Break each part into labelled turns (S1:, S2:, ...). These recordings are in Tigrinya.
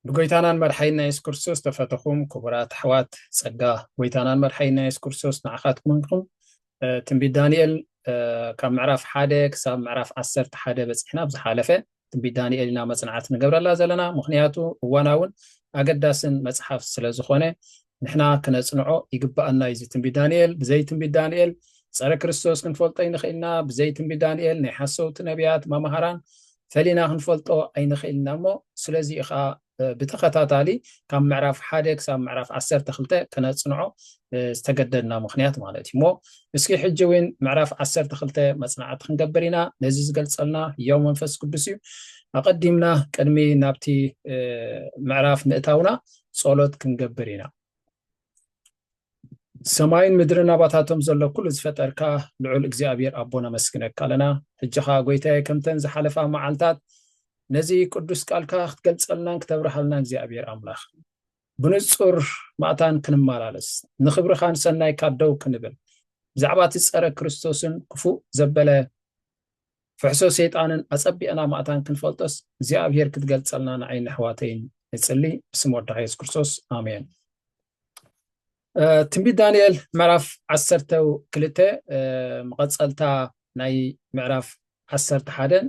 S1: ብጎይታናን መርሓይና የሱስ ክርስቶስ ተፈተኹም ክቡራት ኣሕዋት ጸጋ ጎይታናን መርሓይና የሱስ ክርስቶስ ንዓኻትኩም እንኩም ትንቢት ዳንኤል ካብ ምዕራፍ ሓደ ክሳብ ምዕራፍ ዓሰርተ ሓደ በፂሕና ኣብ ዝሓለፈ ትንቢት ዳንኤል ኢና መፅናዕት ንገብረላ ዘለና ምክንያቱ እዋናውን ኣገዳስን መፅሓፍ ስለ ዝኾነ ንሕና ክነጽንዖ ይግብኣና እዩ እዚ ትንቢት ዳንኤል ብዘይ ትንቢት ዳንኤል ጸረ ክርስቶስ ክንፈልጦ ይንኽእልና ብዘይ ትንቢት ዳንኤል ናይ ሓሰውቲ ነቢያት ማምሃራን ፈሊና ክንፈልጦ ኣይንኽእልና እሞ ስለዚ እዩ ከዓ ብተኸታታሊ ካብ ምዕራፍ ሓደ ክሳብ ምዕራፍ ዓሰርተ ክልተ ክነጽንዖ ዝተገደድና ምክንያት ማለት እዩ እሞ እስኪ ሕጂ እውን ምዕራፍ ዓሰርተ ክልተ መጽናዕቲ ክንገብር ኢና ነዚ ዝገልጸልና ህያው መንፈስ ቅዱስ እዩ ኣቐዲምና ቅድሚ ናብቲ ምዕራፍ ምእታውና ጸሎት ክንገብር ኢና። ሰማይን ምድርን ኣባታቶም ዘሎ ኩሉ ዝፈጠርካ ልዑል እግዚኣብሔር ኣቦ ነመስግነካ ኣለና ሕጂ ኸኣ ጎይታየ ከምተን ዝሓለፋ መዓልታት ነዚ ቅዱስ ቃልካ ክትገልጸልናን ክተብርሃልና እግዚኣብሔር ኣምላኽ ብንጹር ማእታን ክንመላለስ ንኽብርኻን ሰናይካ ደው ክንብል ብዛዕባ እቲ ጸረ ክርስቶስን ክፉእ ዘበለ ፍሕሶ ሰይጣንን ኣጸቢቕና ማእታን ክንፈልጦስ እግዚኣብሄር ክትገልጸልና ንዓይ ነሕዋተይን ንጽሊ ብስም ወድኻ የሱስ ክርስቶስ ኣሜን ትንቢት ዳንኤል ምዕራፍ ዓሰርተ ክልተ መቐፀልታ ናይ ምዕራፍ ዓሰርተ ሓደን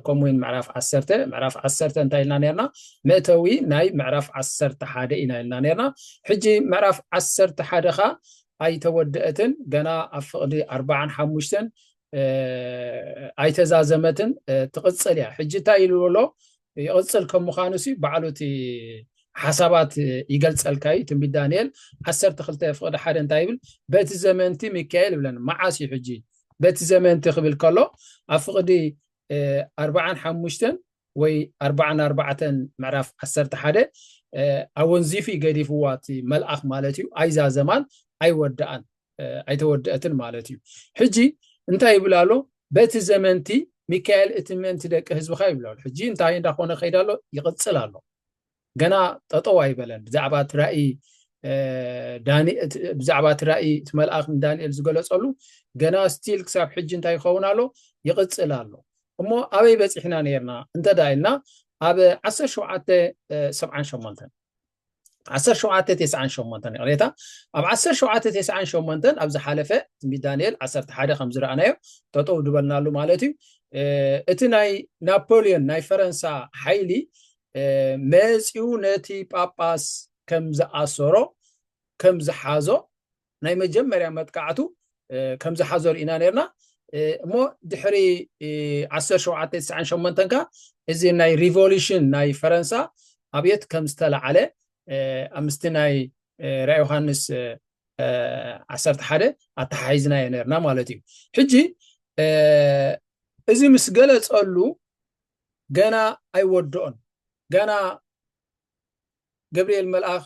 S1: ከምኡ እውን ምዕራፍ ዓሰርተ ምዕራፍ ዓሰርተ እንታይ ኢልና ነርና መእተዊ ናይ ምዕራፍ ዓሰርተ ሓደ ኢና ኢልና ነርና ሕጂ ምዕራፍ ዓሰርተ ሓደ ኸ ኣይተወደአትን ገና ኣብ ፍቕዲ ኣርባዓን ሓሙሽተን ኣይተዛዘመትን ትቕፅል እያ ሕጂ እንታይ ኢሉ ኣሎ ይቕፅል ከም ምዃኑ ሲ ባዕሉ እቲ ሓሳባት ይገልፀልካ እዩ ትንቢት ዳንኤል ዓሰርተ ክልተ ፍቕዲ ሓደ እንታይ ይብል በቲ ዘመንቲ ሚካኤል ይብለን መዓስ እዩ ሕጂ በቲ ዘመንቲ ክብል ከሎ ኣብ ፍቕዲ ኣርባዓን ሓሙሽተን ወይ ኣርባዓን ኣርባዕተን ምዕራፍ ዓሰርተ ሓደ ኣወንዚፊ ገዲፍዋ እቲ መልኣኽ ማለት እዩ ኣይዛዘማን ኣይወዳኣን ኣይተወደአትን ማለት እዩ ሕጂ እንታይ ይብል ኣሎ በቲ ዘመንቲ ሚካኤል እቲ ምእንቲ ደቂ ህዝብካ ይብል ኣሎ ሕጂ እንታይ እንዳኮነ ከይድ ኣሎ ይቅፅል ኣሎ ገና ጠጠው ኣይበለን ብዛዕባ እቲ ራእይ ብዛዕባ እቲ ራእይ እቲ መልኣኽ ንዳንኤል ዝገለፀሉ ገና ስቲል ክሳብ ሕጂ እንታይ ይኸውን ኣሎ ይቅፅል ኣሎ እሞ ኣበይ በፂሕና ነርና እንተዳ ኢልና ኣብ ዓሰርተ ሸውዓተ ሰብዓን ሸሞንተን ዓሰርተ ሸውዓተ ተስዓን ሸሞንተን ይቕሬታ ኣብ ዓሰርተ ሸውዓተ ተስዓን ሸሞንተን ኣብ ዝሓለፈ ትንቢት ዳንኤል ዓሰርተ ሓደ ከም ዝረኣናዮ ጠጠው ዝበልናሉ ማለት እዩ እቲ ናይ ናፖሊዮን ናይ ፈረንሳ ሓይሊ መፂኡ ነቲ ጳጳስ ከም ዝኣሰሮ ከም ዝሓዞ ናይ መጀመርያ መጥቃዕቱ ከምዝሓዞ ርኢና ነርና እሞ ድሕሪ 1798 ከ እዚ ናይ ሪቮሉሽን ናይ ፈረንሳ ኣብየት ከም ዝተላዓለ ኣብ ምስቲ ናይ ራ ዮሃንስ ዓሰርተ ሓደ ኣተሓሒዝናዮ ነርና ማለት እዩ ሕጂ እዚ ምስ ገለፀሉ ገና ኣይወድኦን ገና ገብርኤል መልኣኽ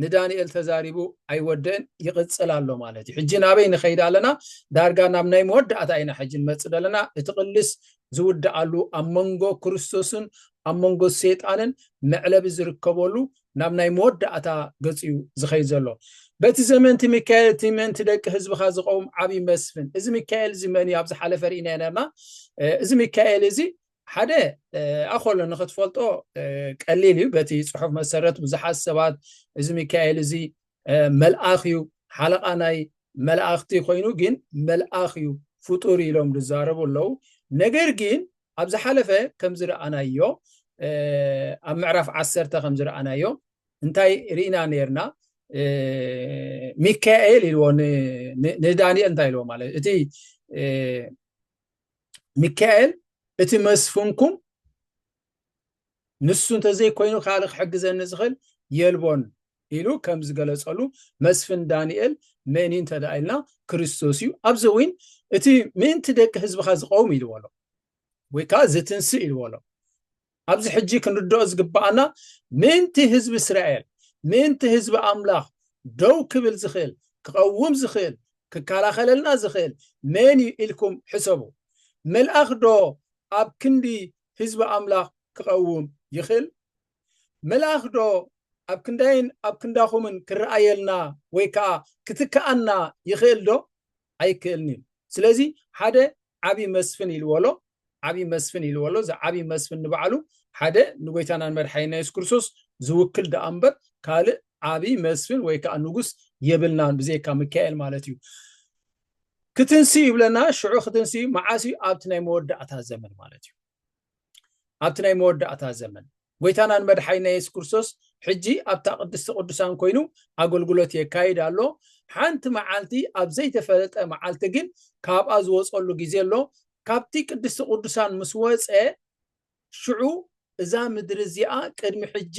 S1: ንዳንኤል ተዛሪቡ ኣይወደእን ይቕፅል ኣሎ ማለት እዩ ሕጂ ናበይ ንኸይድ ኣለና ዳርጋ ናብ ናይ መወዳእታ ኢና ሕጂ ንመፅእ ዘለና እቲ ቅልስ ዝውድኣሉ ኣብ መንጎ ክርስቶስን ኣብ መንጎ ሰይጣንን መዕለቢ ዝርከበሉ ናብ ናይ መወዳእታ ገፅ እዩ ዝኸይድ ዘሎ በቲ ዘመንቲ ሚካኤል እቲ ምእንቲ ደቂ ህዝብኻ ዝቐውም ዓብዪ መስፍን እዚ ሚካኤል እዚ መን እዩ ኣብ ዝሓለፈ ርኢና ነርና እዚ ሚካኤል እዚ ሓደ ኣኸሎ ንክትፈልጦ ቀሊል እዩ በቲ ጽሑፍ መሰረት ብዙሓት ሰባት እዚ ሚካኤል እዚ መልኣኽ እዩ ሓለቓ ናይ መላእኽቲ ኮይኑ ግን መልኣኽ እዩ ፍጡር ኢሎም ዝዛረቡ ኣለዉ ነገር ግን ኣብ ዝሓለፈ ከም ዝረኣናዮ ኣብ ምዕራፍ ዓሰርተ ከም ዝረኣናዮ እንታይ ርኢና ነርና ሚካኤል ኢልዎ ንዳንኤል እንታይ ኢልዎ ማለት እቲ ሚካኤል እቲ መስፍንኩም ንሱ እንተዘይኮይኑ ካልእ ክሕግዘኒ ዝኽእል የልቦን ኢሉ ከም ዝገለጸሉ መስፍን ዳንኤል መን እዩ እንተደኣ ኢልና ክርስቶስ እዩ ኣብዚ እውን እቲ ምእንቲ ደቂ ህዝብኻ ዝቀውም ኢልዎ ኣሎ ወይ ከዓ ዝትንስእ ኢልዎ ኣሎ ኣብዚ ሕጂ ክንርድኦ ዝግብኣና ምእንቲ ህዝቢ እስራኤል ምእንቲ ህዝቢ ኣምላኽ ደው ክብል ዝኽእል ክቐውም ዝኽእል ክከላኸለልና ዝኽእል መን እዩ ኢልኩም ሕሰቡ። መልኣኽ ዶ ኣብ ክንዲ ህዝቢ ኣምላኽ ክቐውም ይኽእል? መልኣኽ ዶ ኣብ ክንዳይን ኣብ ክንዳኹምን ክረኣየልና ወይ ከኣ ክትከኣና ይኽእል ዶ? ኣይክእልን እዩ ስለዚ ሓደ ዓብዪ መስፍን ኢልዎሎ ዓብዪ መስፍን ኢልዎሎ እዚ ዓብዪ መስፍን ንባዕሉ ሓደ ንጎይታና ንመድሓኒና የሱስ ክርስቶስ ዝውክል ደኣ እምበር ካልእ ዓብዪ መስፍን ወይ ከዓ ንጉስ የብልናን ብዘይካ ሚካኤል ማለት እዩ ክትንስእ ይብለና ሽዑ ክትንስእ መዓስ እዩ ኣብቲ ናይ መወዳእታ ዘመን ማለት እዩ ኣብቲ ናይ መወዳእታ ዘመን ጎይታናን መድሓኒና የሱስ ክርስቶስ ሕጂ ኣብታ ቅድስቲ ቅዱሳን ኮይኑ ኣገልግሎት የካይድ ኣሎ ሓንቲ መዓልቲ ኣብ ዘይተፈለጠ መዓልቲ ግን ካብኣ ዝወፀሉ ግዜ ኣሎ ካብቲ ቅድስቲ ቅዱሳን ምስ ወፀ ሽዑ እዛ ምድሪ እዚኣ ቅድሚ ሕጂ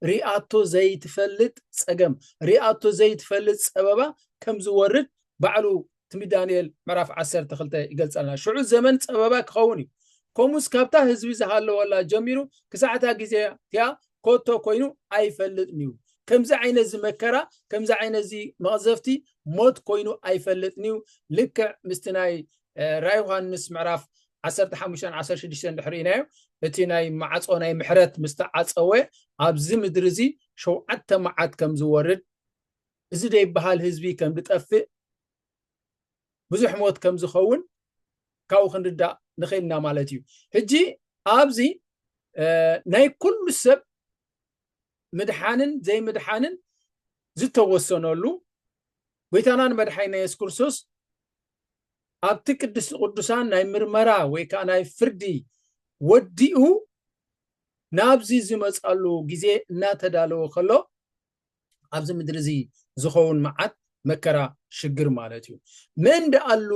S1: ሪኣቶ ዘይትፈልጥ ፀገም ሪኣቶ ዘይትፈልጥ ፀበባ ከም ዝወርድ ባዕሉ ትንቢት ዳንኤል ምዕራፍ ዓሰርተ ክልተ ይገልጸልና ሽዑ ዘመን ጸበባ ክኸውን እዩ ከምኡስ ካብታ ህዝቢ ዝሃለወላ ጀሚሩ ክሳዕታ ግዜ እቲኣ ኮቶ ኮይኑ ኣይፈልጥን እዩ ከምዚ ዓይነት እዚ መከራ ከምዚ ዓይነት እዚ መቕዘፍቲ ሞት ኮይኑ ኣይፈልጥን እዩ ልክዕ ምስቲ ናይ ራይ ዮሃንስ ምዕራፍ 15 16 ድሕሪኢናዮ እቲ ናይ ማዕፆ ናይ ምሕረት ምስተዓፀወ ኣብዚ ምድሪ እዚ ሸውዓተ መዓት ከም ዝወርድ እዚ ዘይበሃል ህዝቢ ከም ዝጠፍእ ብዙሕ ሞት ከም ዝኸውን ካብኡ ክንርዳእ ንኽእል ኢና ማለት እዩ ሕጂ ኣብዚ ናይ ኩሉ ሰብ ምድሓንን ዘይምድሓንን ዝተወሰነሉ ጎይታናን መድሓይና የሱስ ክርስቶስ ኣብቲ ቅድስቲ ቅዱሳን ናይ ምርመራ ወይ ከዓ ናይ ፍርዲ ወዲኡ ናብዚ ዝመፃሉ ግዜ እናተዳለወ ከሎ ኣብዚ ምድሪ እዚ ዝኸውን መዓት መከራ ሽግር ማለት እዩ መን ደኣሉ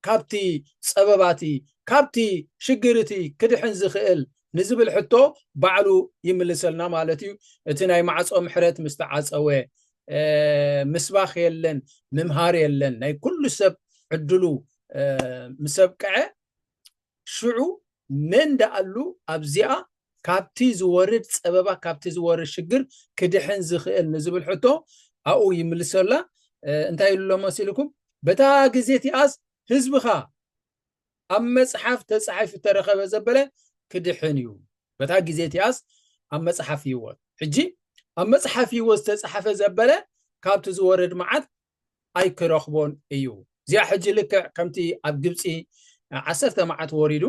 S1: ካብቲ ጸበባቲ ካብቲ ሽግር እቲ ክድሕን ዝኽእል ንዝብል ሕቶ ባዕሉ ይምልሰልና ማለት እዩ እቲ ናይ ማዕጾ ምሕረት ምስ ተዓጸወ ምስባኽ የለን ምምሃር የለን ናይ ኩሉ ሰብ ዕድሉ ምስ ኣብቅዐ ሽዑ መን ደኣሉ ኣብዚኣ ካብቲ ዝወርድ ጸበባ ካብቲ ዝወርድ ሽግር ክድሕን ዝኽእል ንዝብል ሕቶ ኣብኡ ይምልሰላ እንታይ ኢሉ መሲልኩም በታ ግዜ እቲኣስ ህዝብኻ ኣብ መጽሓፍ ተጻሒፉ ተረኸበ ዘበለ ክድሕን እዩ በታ ግዜ እቲኣስ ኣብ መጽሓፍ ህይወት ሕጂ ኣብ መጽሓፍ ህይወት ዝተጻሓፈ ዘበለ ካብቲ ዝወርድ መዓት ኣይክረኽቦን እዩ። እዚኣ ሕጂ ልክዕ ከምቲ ኣብ ግብጺ ዓሰርተ መዓት ወሪዱ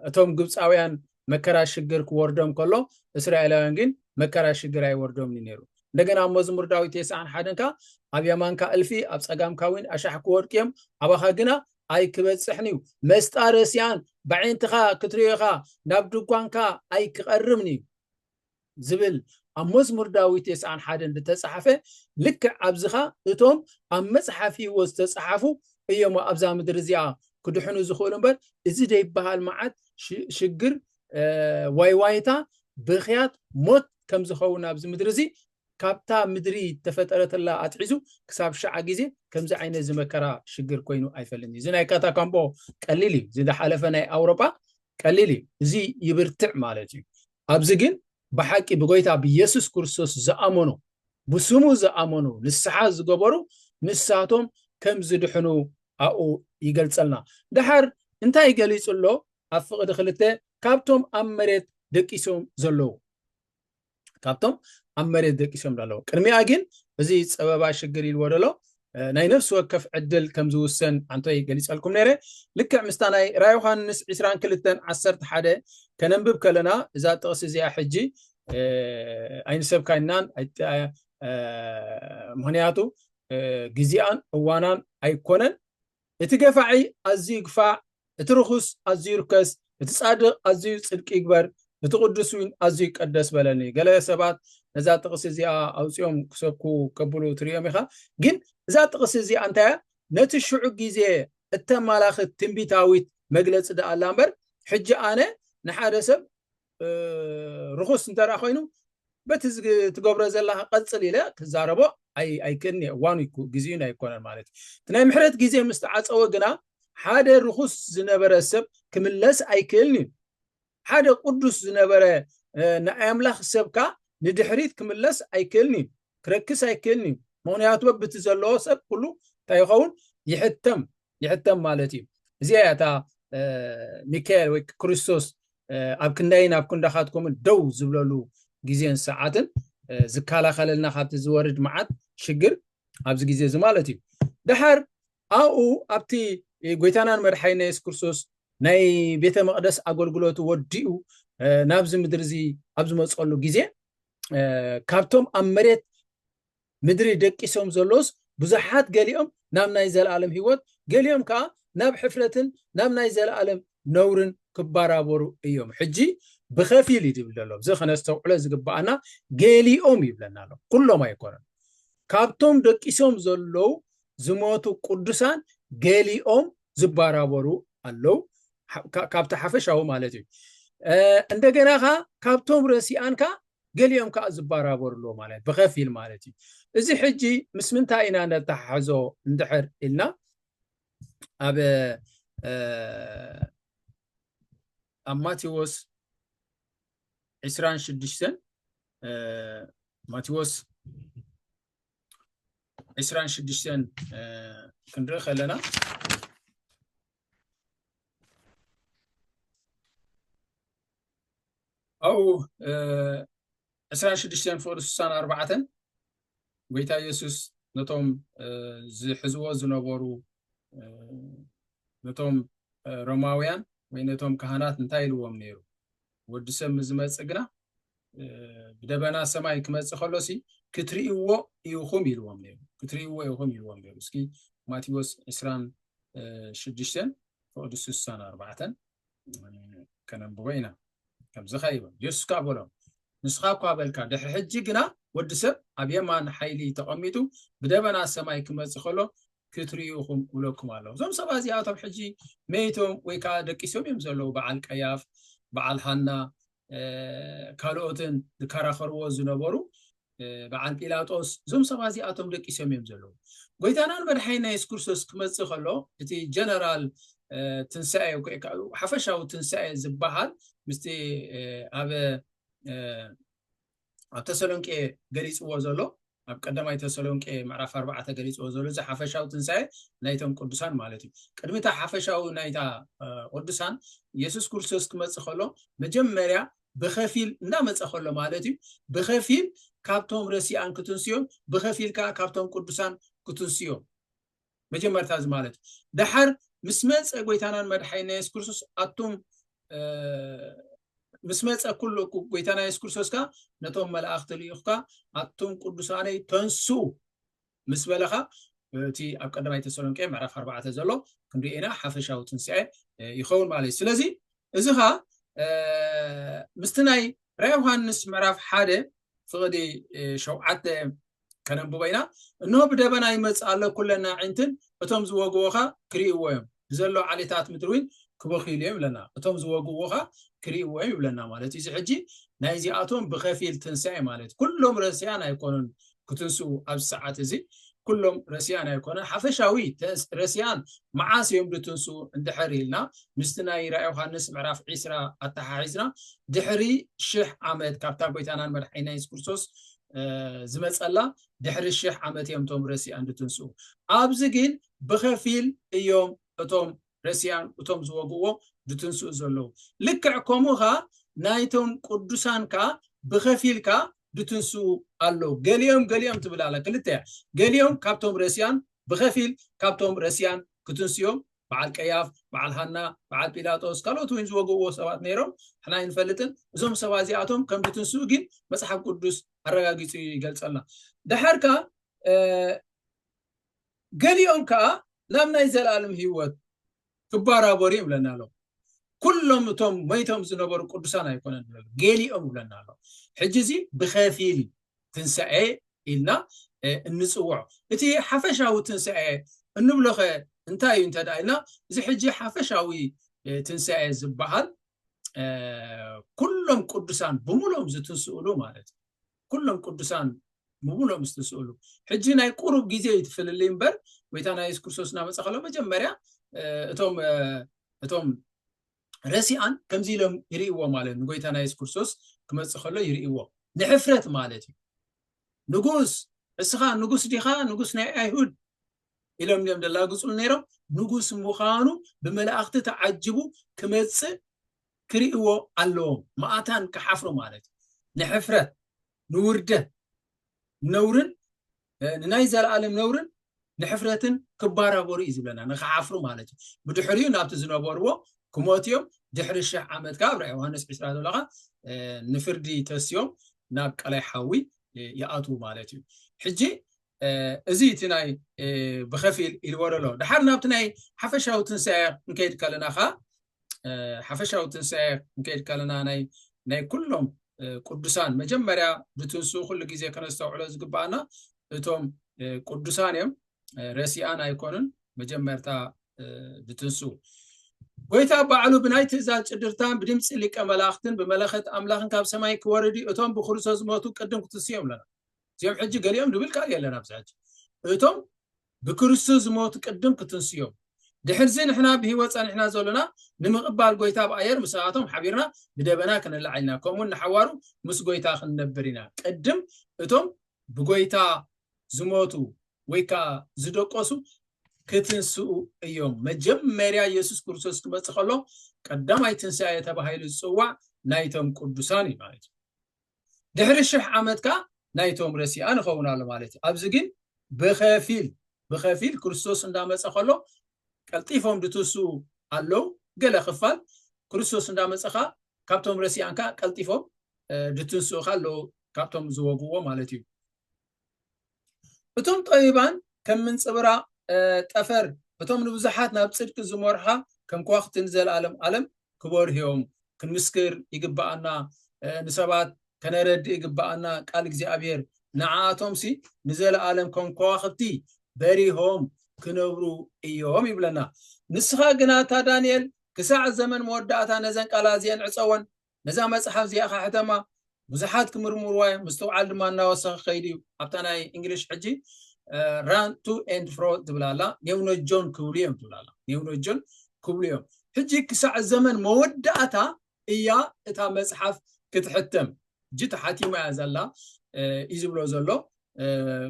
S1: እቶም ግብጻውያን መከራ ሽግር ክወርዶም ከሎ እስራኤላውያን ግን መከራ ሽግር ኣይወርዶም እዩ ነይሩ። እንደገና ኣብ መዝሙር ዳዊት ተስዓን ሓደን ከዓ ኣብ የማንካ እልፊ ኣብ ጸጋምካ እውን ኣሻሕ ክወድቁ እዮም ኣባኻ ግና ኣይክበጽሕን እዩ መስጣ ረሲኣን ብዓይንትኻ ክትሪኦ ኢኻ ናብ ድጓንካ ኣይክቐርብን እዩ ዝብል ኣብ መዝሙር ዳዊት ቴስዓን ሓደን ዝተጻሕፈ ልክዕ ኣብዚኻ እቶም ኣብ መጽሓፍ ህይወት ዝተጻሓፉ እዮሞ ኣብዛ ምድሪ እዚኣ ክድሕኑ ዝኽእሉ እምበር እዚ ዘይበሃል መዓት ሽግር ዋይዋይታ ብኽያት ሞት ከም ዝኸውን ኣብዚ ምድሪ እዚ ካብታ ምድሪ ተፈጠረትላ ኣትሒዙ ክሳብ ሸዓ ግዜ ከምዚ ዓይነት ዝመከራ ሽግር ኮይኑ ኣይፈልን እዩ እዚ ናይ ካታካምቦ ቀሊል እዩ እዚ ዝሓለፈ ናይ ኣውሮጳ ቀሊል እዩ እዚ ይብርትዕ ማለት እዩ ኣብዚ ግን ብሓቂ ብጎይታ ብየሱስ ክርስቶስ ዝኣመኑ ብስሙ ዝኣመኑ ንስሓ ዝገበሩ ንሳቶም ከም ዝድሕኑ ኣብኡ ይገልጸልና ደሓር እንታይ ገሊጹ ኣሎ ኣብ ፍቕዲ ክልተ ካብቶም ኣብ መሬት ደቂሶም ዘለዉ ካብቶም ኣብ መሬት ደቂሶም ኣለዉ ቅድሚኣ ግን እዚ ጸበባ ሽግር ኢልዎ ደሎ ናይ ነፍሲ ወከፍ ዕድል ከም ዝውሰን ኣንተይ ገሊጸልኩም ነይረ ልክዕ ምስታ ናይ ራ ዮሃንስ ዕስራን ክልተን ዓሰርተ ሓደ ከነንብብ ከለና እዛ ጥቕሲ እዚኣ ሕጂ ኣይንሰብካይናን ምክንያቱ ግዜኣን እዋናን ኣይኮነን እቲ ገፋዒ ኣዝዩ ግፋዕ፣ እቲ ርኹስ ኣዝዩ ይርከስ፣ እቲ ጻድቕ ኣዝዩ ጽድቂ ይግበር፣ እቲ ቕዱስ ውን ኣዝዩ ይቀደስ በለኒ። ገለ ሰባት ነዛ ጥቕሲ እዚኣ ኣውጺኦም ክሰብኩ ከብሉ ትርእዮም ኢኻ። ግን እዛ ጥቕሲ እዚኣ እንታይ እያ? ነቲ ሽዑ ግዜ እተማላኽት ትንቢታዊት መግለጺ ደኣ ኣላ እምበር፣ ሕጂ ኣነ ንሓደ ሰብ ርኹስ እንተ ኮይኑ በቲ ትገብሮ ዘለካ ቀፅል ኢለ ክዛረቦ ኣይክእልኒ እዋኑ ግዜኡን ኣይኮነን ማለት እዩ እቲ ናይ ምሕረት ግዜ ምስ ተዓፀወ ግና ሓደ ርኹስ ዝነበረ ሰብ ክምለስ ኣይክእልን እዩ ሓደ ቅዱስ ዝነበረ ንኣይ ኣምላኽ ሰብካ ንድሕሪት ክምለስ ኣይክእልን እዩ ክረክስ ኣይክእልን እዩ ምክንያቱ በብቲ ዘለዎ ሰብ ኩሉ እንታይ ይኸውን ይሕተም ይሕተም ማለት እዩ እዚኣ እያ እታ ሚካኤል ወይ ክርስቶስ ኣብ ክንዳይን ኣብ ክንዳኻትኩምን ደው ዝብለሉ ግዜን ሰዓትን ዝከላኸለልና ካብቲ ዝወርድ መዓት ሽግር ኣብዚ ግዜ እዚ ማለት እዩ ድሓር ኣብኡ ኣብቲ ጎይታናን መድሓይና የሱስ ክርስቶስ ናይ ቤተ መቅደስ ኣገልግሎቱ ወዲኡ ናብዚ ምድሪ እዚ ኣብ ዝመፀሉ ግዜ ካብቶም ኣብ መሬት ምድሪ ደቂሶም ዘለዉስ ብዙሓት ገሊኦም ናብ ናይ ዘለኣለም ህይወት ገሊኦም ከኣ ናብ ሕፍረትን ናብ ናይ ዘለኣለም ነውርን ክባራበሩ እዮም ሕጂ ብኸፊል እዩ ዝብል ዘሎ እዚ ከነስተውዕሎ ዝግብኣና ገሊኦም ይብለና ኣሎ ኩሎም ኣይኮነን ካብቶም ደቂሶም ዘለዉ ዝሞቱ ቅዱሳን ገሊኦም ዝባራበሩ ኣለዉ ካብቲ ሓፈሻዊ ማለት እዩ እንደገና ከኣ ካብቶም ረሲኣን ከኣ ገሊኦም ከኣ ዝባራበሩሎ ማለት ብኸፊል ማለት እዩ። እዚ ሕጂ ምስ ምንታይ ኢና ነተሓሕዞ እንድሕር ኢልና ኣብ ኣብ ማቴዎስ ዕስራን ሽዱሽተን ማቴዎስ ዕስራን ሽዱሽተን ክንርኢ ከለና ኣብኡ ዕስራን ሽዱሽተን ፍቕሪ ስሳን ኣርባዕተን ጎይታ ኢየሱስ ነቶም ዝሕዝዎ ዝነበሩ ነቶም ሮማውያን ወይ ነቶም ካህናት እንታይ ኢልዎም ነይሩ ወዲ ሰብ ምስ ዝመጽእ ግና ብደበና ሰማይ ክመጽእ ከሎሲ ክትርእይዎ ኢኹም ኢልዎም ነይሩ ክትርእይዎ ኢኹም ኢልዎም ነይሩ እስኪ ማቴዎስ ዕስራን ሽዱሽተን ፍቕዲ ስሳን ኣርባዕተን ከነንብቦ ኢና ከምዚ ኸ ይብል የሱስ ከዓ በሎም ንስኻ እኳ በልካ ድሕሪ ሕጂ ግና ወዲ ሰብ ኣብ የማን ሓይሊ ተቐሚጡ ብደበና ሰማይ ክመፅእ ከሎ ክትሪኡ ኢኹም እብለኩም ኣለኹ። እዞም ሰባት እዚኣቶም ሕጂ መይቶም ወይ ከዓ ደቂሶም እዮም ዘለዉ። በዓል ቀያፍ፣ በዓል ሃና ካልኦትን ዝከራኸርዎ ዝነበሩ በዓል ጲላጦስ እዞም ሰባት እዚኣቶም ደቂሶም እዮም ዘለዉ። ጎይታናን መድሓኒና የሱስ ክርስቶስ ክመፅእ ከሎ እቲ ጀነራል ትንሳኤ ሓፈሻዊ ትንሳኤ ዝበሃል ምስቲ ኣብ ኣብ ተሰሎንቄ ገሊጽዎ ዘሎ ኣብ ቀዳማይ ተሰሎንቄ ምዕራፍ ኣርባዕተ ገሊጽዎ ዘሎ እዚ ሓፈሻዊ ትንሳኤ ናይቶም ቅዱሳን ማለት እዩ ቅድሚ እታ ሓፈሻዊ ናይታ ቅዱሳን የሱስ ክርስቶስ ክመፅእ ከሎ መጀመርያ ብከፊል እንዳመፀ ከሎ ማለት እዩ ብከፊል ካብቶም ረሲኣን ክትንስዮም ብከፊል ከዓ ካብቶም ቅዱሳን ክትንስዮም መጀመርታ እዚ ማለት እዩ ደሓር ምስ መጸ ጎይታናን መድሓይና የሱስ ክርስቶስ ኣቱም ምስ መጸ ኩሉ ጎይታና የሱስ ክርስቶስ ከኣ ነቶም መላእኽቲ ልኢኹካ ኣቱም ቅዱሳነይ ተንሱ ምስ በለኻ እቲ ኣብ ቀዳማይ ተሰሎንቄ ምዕራፍ ኣርባዕተ ዘሎ ክንሪኤና ሓፈሻዊ ትንስኤ ይኸውን ማለት እዩ ስለዚ እዚ ኸ ምስቲ ናይ ራይ ዮሃንስ ምዕራፍ ሓደ ፍቕዲ ሸውዓተ ከነንብቦ ኢና እንሆ ብደበና ይመጽእ ኣሎ ኩለን ኣዒንትን እቶም ዝወግኡኻ ክርእይዎ እዮም ብዘሎ ዓሌታት ምድሪ እውን ክበኽይሉ እዮም ይብለና እቶም ዝወግኡኻ ክርእይዎ እዮም ይብለና ማለት እዩ እዚ ሕጂ ናይ እዚኣቶም ብኸፊል ትንሳኤ ማለት ኩሎም ረሲያን ኣይኮኑን ክትንስኡ ኣብዚ ሰዓት እዚ ኩሎም ረሲያን ኣይኮነን ሓፈሻዊ ረሲያን መዓስ እዮም ድትንሱ እንድሕር ኢልና ምስቲ ናይ ራ ዮሃንስ ምዕራፍ ዒስራ ኣተሓሒዝና ድሕሪ ሽሕ ዓመት ካብታ ጎይታናን መድሓኒና የሱስ ክርስቶስ ዝመጸላ ድሕሪ ሽሕ ዓመት እዮም እቶም ረሲኣን ዝትንስኡ ኣብዚ ግን ብኸፊል እዮም እቶም ረሲኣን እቶም ዝወግዎ ዝትንስኡ ዘለዉ ልክዕ ከምኡ ኸኣ ናይቶም ቅዱሳን ከኣ ብኸፊል ከኣ ዝትንስኡ ኣለዉ ገሊኦም ገሊኦም ትብል ኣላ ክልተ እያ ገሊኦም ካብቶም ረሲኣን ብኸፊል ካብቶም ረሲኣን ክትንስኦም በዓል ቀያፍ በዓል ሃና በዓል ጲላጦስ ካልኦት እውን ዝወግእዎ ሰባት ነይሮም ንሕና ኣይንፈልጥን እዞም ሰባት እዚኣቶም ከም ዝትንስኡ ግን መፅሓፍ ቅዱስ ኣረጋጊፁ ይገልፀልና ድሓር ከዓ ገሊኦም ከዓ ናብ ናይ ዘለኣለም ህይወት ክባራበሩ ይብለና ኣሎ ኩሎም እቶም መይቶም ዝነበሩ ቅዱሳን ኣይኮነን ገሊኦም ይብለና ኣሎ ሕጂ እዚ ብከፊል ትንሳኤ ኢልና እንፅውዖ እቲ ሓፈሻዊ ትንሳኤ እንብሎኸ እንታይ እዩ እንተዳ ኢልና እዚ ሕጂ ሓፈሻዊ ትንሳኤ ዝበሃል ኩሎም ቅዱሳን ብምሎም ዝትንስእሉ ማለት እዩ ኩሎም ቅዱሳን ምብሎም ዝትንስእሉ ሕጂ ናይ ቁሩብ ግዜ እዩ ትፍልልይ እምበር ጎይታና የሱስ ክርስቶስ እናመፀ ከሎ መጀመርያ እቶም እቶም ረሲኣን ከምዚ ኢሎም ይርእይዎ ማለት ንጎይታና የሱስ ክርስቶስ ክመጽእ ከሎ ይርእይዎ ንሕፍረት ማለት እዩ ንጉስ እስኻ ንጉስ ዲኻ ንጉስ ናይ ኣይሁድ ኢሎም እዮም ደላግጹሉ ነይሮም ንጉስ ምዃኑ ብመላእኽቲ ተዓጅቡ ክመጽእ ክርእይዎ ኣለዎም ማእታን ክሓፍሩ ማለት እዩ ንሕፍረት ንውርደት ነውርን ንናይ ዘለኣለም ነውርን ንሕፍረትን ክባራበሩ እዩ ዝብለና ንክዓፍሩ ማለት እዩ ብድሕሪኡ ናብቲ ዝነበርዎ ክሞት እዮም ድሕሪ ሽሕ ዓመት ከዓ ኣብ ራእይ ዮሃንስ ዕስራ ዘሎ ከዓ ንፍርዲ ተስዮም ናብ ቀላይ ሓዊ ይኣትዉ ማለት እዩ ሕጂ እዚ እቲ ናይ ብከፊል ኢልዎ ደሎ ድሓር ናብቲ ናይ ሓፈሻዊ ትንሳኤ ክንከይድ ከለና ከዓ ሓፈሻዊ ትንሳኤ ክንከይድ ከለና ናይ ኩሎም ቅዱሳን መጀመርያ ብትንስኡ ኩሉ ግዜ ከነስተውዕሎ ዝግባኣና እቶም ቅዱሳን እዮም ረሲኣን ኣይኮኑን መጀመርታ ብትንስኡ ጎይታ ባዕሉ ብናይ ትእዛዝ ጭድርታን ብድምፂ ሊቀ መላእክትን ብመለኸት ኣምላኽን ካብ ሰማይ ክወርድ እቶም ብክርስቶስ ዝሞቱ ቅድም ክትስዮም ኣለና እዚኦም ሕጂ ገሊኦም ድብል ቃል የለን ኣብዚ ሕጂ እቶም ብክርስቶስ ዝሞቱ ቅድም ክትንስኡ እዮም። ድሕርዚ ንሕና ብህይወት ጸኒሕና ዘሎና ንምቕባል ጐይታ ብኣየር ምስኣቶም ሓቢርና ብደበና ክንለዓል ኢና፣ ከምኡውን ንሓዋሩ ምስ ጐይታ ክንነብር ኢና። ቅድም እቶም ብጐይታ ዝሞቱ ወይ ከኣ ዝደቈሱ ክትንስኡ እዮም። መጀመርያ የሱስ ክርስቶስ ክመጽእ ከሎ ቀዳማይ ትንሳኤ ተባሂሉ ዝጽዋዕ ናይቶም ቅዱሳን እዩ ማለት እዩ። ድሕሪ ሽሕ ዓመት ከኣ ናይቶም ረሲኣ ንኸውን ኣሎ ማለት እዩ ኣብዚ ግን ብኸፊል ብኸፊል ክርስቶስ እንዳመጸ ከሎ ቀልጢፎም ድትሱ ኣለው ገለ ክፋል ክርስቶስ እንዳመጸ ከኣ ካብቶም ረሲኣን ከኣ ቀልጢፎም ድትንስኡ ከኣ ኣለዉ ካብቶም ዝወግዎ ማለት እዩ እቶም ጠቢባን ከም ምንጽብራቕ ጠፈር፣ እቶም ንብዙሓት ናብ ጽድቂ ዝመርሑኻ ከም ከዋኽብቲ ንዘለኣለም ኣለም ክበርሁ እዮም። ክንምስክር ይግብኣና፣ ንሰባት ከነረድእ ይግብኣና፣ ቃል እግዚኣብሄር ንዓኣቶምሲ ንዘለኣለም ከም ከዋኽብቲ በሪሆም ክነብሩ እዮም ይብለና። ንስኻ ግና እታ ዳንኤል ክሳዕ ዘመን መወዳእታ ነዘን ቃላት እዚኤን ዕጸወን፣ ነዛ መጽሓፍ እዚኣ ከሕተማ ብዙሓት ክምርምርዋ እዮም፣ ምስትውዓል ድማ እናወሰኸ ክኸይድ እዩ። ኣብታ ናይ እንግሊሽ ሕጂ ራን ቱ ኤንድ ፍሮ ትብል ኣላ፣ ኔውኖጆን ክብሉ እዮም ትብል ኣላ፣ ኔውኖጆን ክብሉ እዮም። ሕጂ ክሳዕ ዘመን መወዳእታ እያ እታ መጽሓፍ ክትሕተም፣ ሕጂ ተሓቲማ እያ ዘላ እዩ ዝብሎ ዘሎ።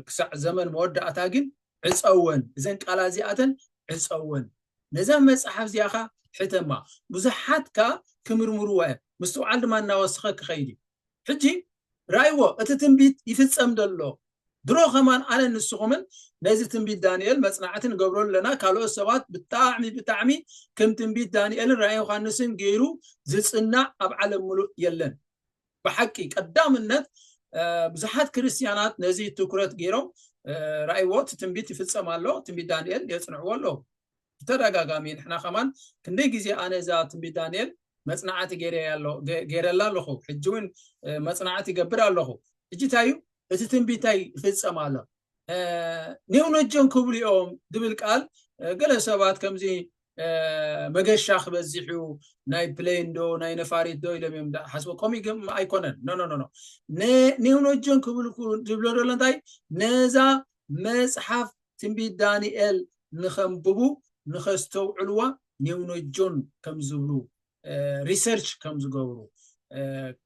S1: ክሳዕ ዘመን መወዳእታ ግን ዕጸወን እዘን ቃላት እዚኣተን ዕጸወን ነዛ መጽሓፍ እዚኣ ከኣ ሕተማ ብዙሓት ከኣ ክምርምርዋ እዮም ምስትውዓል ድማ እናወሰኸ ክኸይድ እዩ ሕጂ ራእይዎ እቲ ትንቢት ይፍጸም ደሎ ድሮ ከማን ኣነ ንስኹምን ነዚ ትንቢት ዳንኤል መጽናዕቲ ንገብሮ ኣለና ካልኦት ሰባት ብጣዕሚ ብጣዕሚ ከም ትንቢት ዳንኤልን ራእይ ዮሃንስን ገይሩ ዝጽናዕ ኣብ ዓለም ምሉእ የለን ብሓቂ ቀዳምነት ብዙሓት ክርስትያናት ነዚ ትኩረት ገይሮም ራእይዎ እቲ ትንቢት ይፍፀም ኣሎ ትንቢት ዳንኤል የፅንዕዎ ኣለዉ ብተደጋጋሚ ንሕና ከማን ክንደይ ግዜ ኣነ እዛ ትንቢት ዳንኤል መፅናዕቲ ገይረላ ኣለኹ ሕጂ እውን መፅናዕቲ ይገብር ኣለኹ ሕጂ እንታይ እዩ እቲ ትንቢታይ ይፍፀም ኣሎ ኔውነጀን ክብሉ እዮም ዝብል ቃል ገለ ሰባት ከምዚ መገሻ ክበዝሕ እዩ ናይ ፕሌን ዶ ናይ ነፋሪት ዶ ኢሎም እዮም ሓስቦ ከምኡ ግን ኣይኮነን ኖኖኖ ኔውነጀን ክብል ዝብሎ ዘሎ እንታይ ነዛ መፅሓፍ ትንቢት ዳንኤል ንኸንብቡ ንኸስተውዕልዋ ኔውነጆን ከም ዝብሉ ሪሰርች ከም ዝገብሩ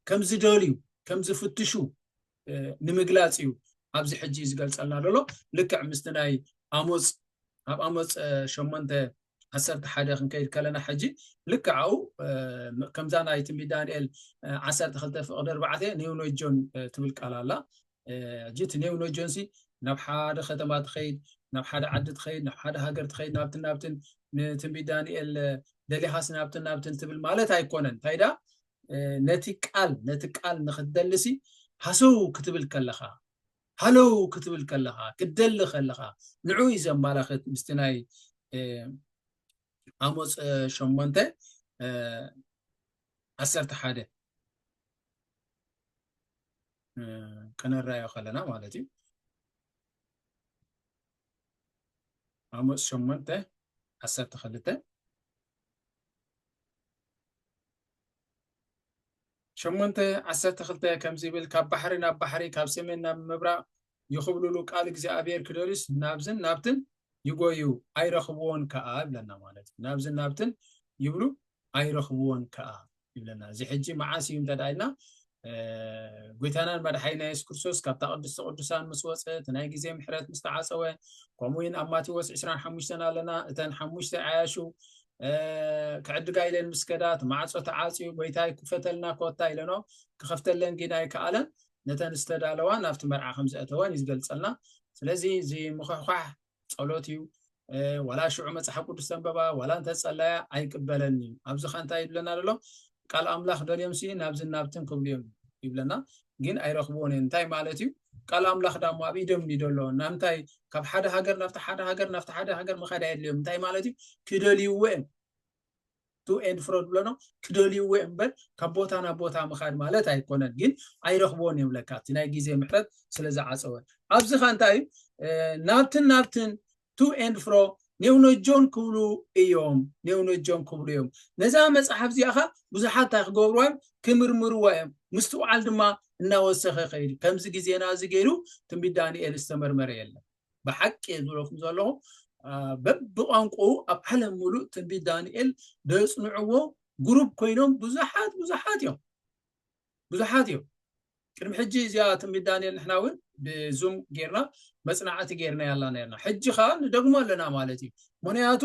S1: ከም ዝደልዩ ከም ዝፍትሹ ንምግላፅ እዩ ኣብዚ ሕጂ ዝገልፀልና ዘሎ ልክዕ ምስቲ ናይ ኣሞፅ ኣብ ኣሞፅ ሸሞንተ ዓሰርተ ሓደ ክንከይድ ከለና ሕጂ ልክዕ ኣብኡ ከምዛ ናይ ትንቢት ዳንኤል ዓሰርተ ክልተ ፍቕዲ ኣርባዕተ ኔውኖጆን ትብል ቃል ኣላ ሕጂ እቲ ኔውኖጆን ሲ ናብ ሓደ ከተማ ትኸይድ ናብ ሓደ ዓዲ ትኸይድ ናብ ሓደ ሃገር ትኸይድ ናብትን ናብትን ንትንቢት ዳንኤል ደሊኻስ ናብትን ናብትን ትብል ማለት ኣይኮነን እንታይ ዳ ነቲ ቃል ነቲ ቃል ንክትደልሲ ሃሰው ክትብል ከለኻ ሃለው ክትብል ከለኻ ክትደሊ ከለኻ ንዑ እዩ ዘመላኽት ምስቲ ናይ ኣሞፅ ሸሞንተ ዓሰርተ ሓደ ከነራዮ ከለና ማለት እዩ ኣሞፅ ሸሞንተ ዓሰርተ ክልተ ሸሞንተ ዓሰርተ ክልተ ከምዚ ይብል ካብ ባሕሪ ናብ ባሕሪ ካብ ሰሜን ናብ ምብራቕ ይኹብልሉ ቃል እግዚኣብሔር ክደርስ ናብዝን ናብትን ይጎዩ ኣይረኽብዎን ከዓ ይብለና ማለት እዩ ናብዝን ናብትን ይብሉ ኣይረኽብዎን ከዓ ይብለና እዚ ሕጂ መዓስ እዩ እንተ ኢልና ጐይታናን መድሓኒና የሱስ ክርስቶስ ካብታ ቅድስተ ቅዱሳን ምስ ወፀ እቲ ናይ ግዜ ምሕረት ምስ ተዓፀወ ከምኡ እውን ኣብ ማቴዎስ 25 ኣለና እተን ሓሙሽተ ዓያሹ ክዕድጋ ኢለን ምስ ከዳ እቲ ማዕፆ ተዓፅዩ ጐይታይ ክፈተልና ኮታ ኢለኖ ክኸፍተለን ግን ኣይከኣለን ነተን ዝተዳለዋ ናብቲ መርዓ ከም ዘእተወን እዩ ዝገልፀልና ስለዚ እዚ ምኽሕኳሕ ጸሎት እዩ ዋላ ሽዑ መፅሓፍ ቅዱስ ተንበባ ዋላ እንተፀላያ ኣይቅበለን እዩ ኣብዚ ካ እንታይ ይብለና ዘሎ ቃል ኣምላኽ ደልዮም ሲ ናብዝን ናብትን ክብሉ እዮም ይብለና ግን ኣይረኽብዎን እዮም እንታይ ማለት እዩ ቃል ኣምላኽ ዳሞ ኣብ ኢዶም ዩ ደሎ ናምንታይ ካብ ሓደ ሃገር ናብቲ ሓደ ሃገር ናብቲ ሓደ ሃገር ምካድ ኣየድልዮም እንታይ ማለት እዩ ክደልይዎ እዮም ቱ ኤንድ ፍሮ ዝብለኖ ክደልይዎ እዮም እምበር ካብ ቦታ ናብ ቦታ ምኻድ ማለት ኣይኮነን ግን ኣይረኽብዎን እዮም ለካ እቲ ናይ ግዜ ምሕረት ስለ ዝዓፀወ ኣብዚ ኸ እንታይ እዩ ናብትን ናብትን ቱ ኤንድ ፍሮ ኔውነጆን ክብሉ እዮም ኔውነጆን ክብሉ እዮም ነዛ መፅሓፍ እዚኣ ኸ ብዙሓት እንታይ ክገብርዋ እዮም ክምርምርዋ እዮም ምስትውዓል ድማ እናወሰኸ ኸይዱ ከምዚ ግዜና እዚ ገይሩ ትንቢት ዳንኤል ዝተመርመረ የለን ብሓቂ እየ ዝብለኩም ዘለኹ በብቋንቁኡ ኣብ ዓለም ሙሉእ ትንቢት ዳንኤል ዘፅንዕዎ ጉሩብ ኮይኖም ብዙሓት ብዙሓት እዮም ብዙሓት እዮም ቅድሚ ሕጂ እዚኣ ትንቢት ዳንኤል ንሕና እውን ብዙም ጌርና መፅናዕቲ ጌርና ያላ ነርና ሕጂ ከዓ ንደግሞ ኣለና ማለት እዩ ምክንያቱ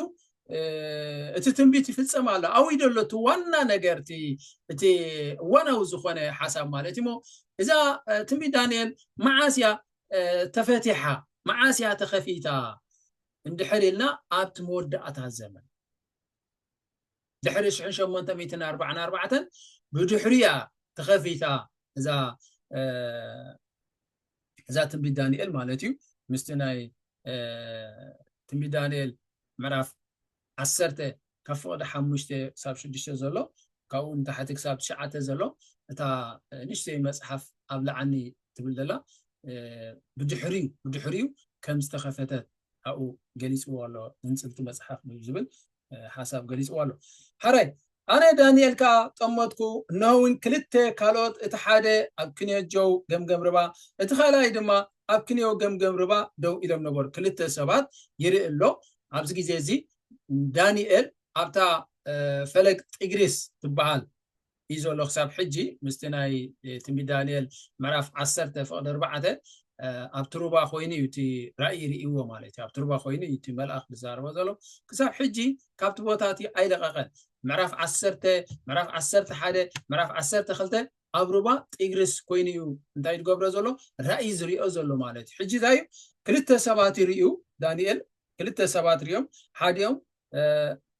S1: እቲ ትንቢት ይፍፀም ኣሎ ኣብይ ደሎ እቲ ዋና ነገር እቲ እዋናዊ ዝኾነ ሓሳብ ማለት እሞ እዛ ትንቢት ዳንኤል መዓስ እያ ተፈቲሓ መዓስ እያ ተኸፊታ እንድሕር ኢልና ኣብቲ መወዳእታ ዘመን ድሕሪ ሽሕን ሸሞንተ ሚእትን ኣርባዕን ኣርባዕተን ብድሕሪ እያ ተኸፊታ እዛ እዛ ትንቢት ዳንኤል ማለት እዩ ምስቲ ናይ ትንቢት ዳንኤል ምዕራፍ ዓሰርተ፣ ካብ ፍቕዲ ሓሙሽተ ክሳብ ሽዱሽተ ዘሎ፣ ካብኡ ንታሕቲ ክሳብ ትሽዓተ ዘሎ፣ እታ ንእሽተይ መጽሓፍ ኣብ ልዓኒ ትብል ዘላ ብድሕሪኡ ብድሕሪኡ ከም ዝተኸፈተት ኣብኡ ገሊጽዎ ኣሎ፣ ዝንጽብቲ መጽሓፍ ዝብል ሓሳብ ገሊጽዎ ኣሎ። ሐራይ ኣነ ዳኒኤል ከኣ ጠመትኩ፣ እነሆውን ክልተ ካልኦት እቲ ሓደ ኣብ ክንዮ ጀው ገምገም ርባ እቲ ካልኣይ ድማ ኣብ ክንዮ ገምገም ርባ ደው ኢሎም ነበሩ። ክልተ ሰባት ይርኢ ኣሎ። ኣብዚ ግዜ እዚ ዳኒኤል ኣብታ ፈለግ ጢግሪስ ትበሃል እዩ ዘሎ ክሳብ ሕጂ ምስቲ ናይ ትንቢት ዳኒኤል ምዕራፍ ዓሰርተ ፍቕዲ ኣርባዕተ ኣብቲ ሩባ ኮይኑ እዩ እቲ ራእይ ርእይዎ ማለት እዩ ኣብቲ ሩባ ኮይኑ እዩ እቲ መልኣኽ ዝዛረቦ ዘሎ ክሳብ ሕጂ ካብቲ ቦታ እቲ ኣይለቐቐን። ምዕራፍ ዓሰርተ፣ ምዕራፍ ዓሰርተ ሓደ፣ ምዕራፍ ዓሰርተ ክልተ ኣብ ሩባ ጢግርስ ኮይኑ እዩ እንታይ ዝገብሮ ዘሎ ራእይ ዝሪኦ ዘሎ ማለት እዩ። ሕጂ እንታይ እዩ ክልተ ሰባት ይርእዩ ዳንኤል ክልተ ሰባት ሪኦም ሓዲኦም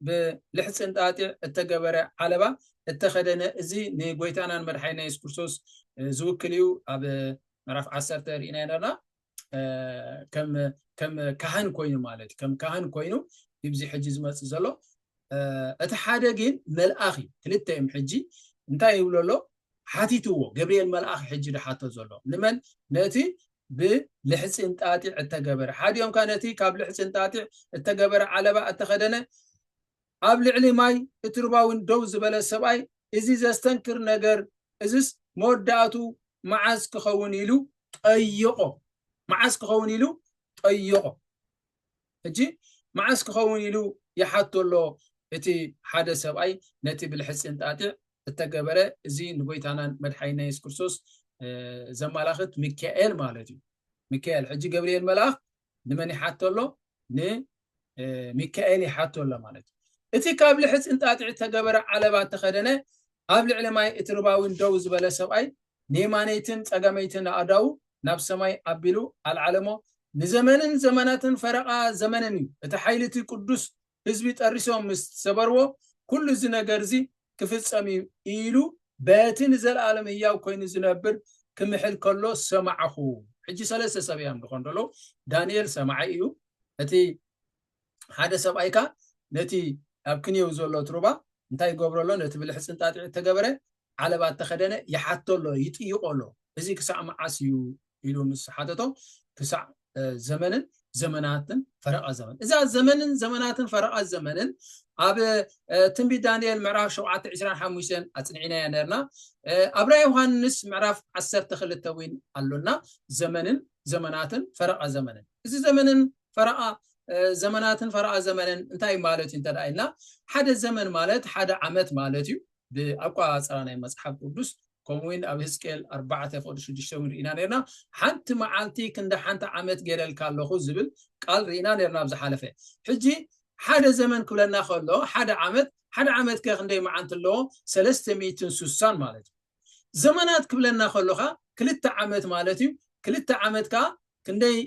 S1: ብልሕፅን ጣጢዕ እተገበረ ዓለባ እተኸደነ እዚ ንጎይታናን መድሓኒና የሱስ ክርስቶስ ዝውክል እዩ ኣብ ምዕራፍ ዓሰርተ ርኢና ነርና ከም ካህን ኮይኑ ማለት እዩ ከም ካህን ኮይኑ እዚ ሕጂ ዝመፅእ ዘሎ እቲ ሓደ ግን መልኣኽ እዩ ክልተ እዮም ሕጂ እንታይ ይብሎ ኣሎ ሓቲትዎ ገብርኤል መልኣኽ ሕጂ ዝሓቶ ዘሎ ንመን ነቲ ብልሕፂ እንጣጢዕ እተገበረ ሓዲኦም ከ ነቲ ካብ ልሕፂ እንጣጢዕ እተገበረ ዓለባ እተኸደነ ኣብ ልዕሊ ማይ እቲ ሩባ'ውን ደው ዝበለ ሰብኣይ፣ እዚ ዘስተንክር ነገር እዝስ መወዳእቱ መዓዝ ክኸውን ኢሉ ጠየቖ። መዓዝ ክኸውን ኢሉ ጠየቖ። ሕጂ መዓዝ ክኸውን ኢሉ ይሓቶ ኣሎ እቲ ሓደ ሰብኣይ ነቲ ብልሕጺ እንጣጢዕ እተገበረ እዚ ንጎይታናን መድሓኒና የሱስ ክርስቶስ ዘማላኽት ሚካኤል ማለት እዩ። ሚካኤል ሕጂ ገብርኤል መልኣኽ ንመን ይሓቶ ኣሎ ንሚካኤል ይሓቶ ኣሎ ማለት እዩ እቲ ካብ ልሕፅ እንጣጢዕ ዝተገበረ ዓለባ ተኸደነ ኣብ ልዕሊ ማይ እቲ ርባዊን ደው ዝበለ ሰብኣይ ንየማነይትን ጸጋመይትን ኣእዳዉ ናብ ሰማይ ኣቢሉ ኣልዓለሞ ንዘመንን ዘመናትን ፈረቓ ዘመንን እዩ እቲ ሓይሊ እቲ ቅዱስ ህዝቢ ጠሪሶም ምስ ሰበርዎ፣ ኵሉ እዚ ነገር እዚ ኺፍጸም እዩ ኢሉ፣ በቲ ንዘለኣለም ህያው ኰይኑ ዚነብር ኪምሕል ከሎ ሰማዕኩ። ሕጂ ሰለስተ ሰብ እዮም ዚዀኑ ዘለዉ፣ ዳንኤል ሰማዒ እዩ፣ እቲ ሓደ ሰብኣይ ከኣ ነቲ ኣብ ክንየው ዘሎ እቲ ሩባ እንታይ ይገብሮ ኣሎ፣ ነቲ ብልሕጺ እንጣጢዕ እተገብረ ዓለባ እተኸደነ ይሓቶ ኣሎ፣ ይጥይቖ ኣሎ፣ እዚ ክሳዕ መዓስ እዩ ኢሉ ምስ ሓተቶ ክሳዕ ዘመንን ዘመናትን ፈረቓ ዘመን እዛ ዘመንን ዘመናትን ፈረቓ ዘመንን ኣብ ትንቢት ዳንኤል ምዕራፍ ሸውዓተ ዕስራን ሓሙሽተን ኣፅኒዕናያ ነርና ኣብ ራ ዮሃንስ ምዕራፍ ዓሰርተ ክልተ እውን ኣሎና ዘመንን ዘመናትን ፈረቓ ዘመንን እዚ ዘመንን ፈረቓ ዘመናትን ፈረቓ ዘመንን እንታይ ማለት እዩ እንተደኣ ኢልና ሓደ ዘመን ማለት ሓደ ዓመት ማለት እዩ ብኣቋፃራ ናይ መፅሓፍ ቅዱስ ከምኡ ውን ኣብ ህዝቅኤል ኣርባዕተ ፍቕዲ ሽዱሽተ ውን ርኢና ነርና ሓንቲ መዓልቲ ክንዲ ሓንቲ ዓመት ገይረልካ ኣለኹ ዝብል ቃል ርኢና ነርና ኣብ ዝሓለፈ ሕጂ ሓደ ዘመን ክብለና ከሎ ሓደ ዓመት ሓደ ዓመት ከ ክንደይ መዓልቲ ኣለዎ ሰለስተ ሚእትን ሱሳን ማለት እዩ ዘመናት ክብለና ከሎ ከኣ ክልተ ዓመት ማለት እዩ ክልተ ዓመት ከኣ ክንደይ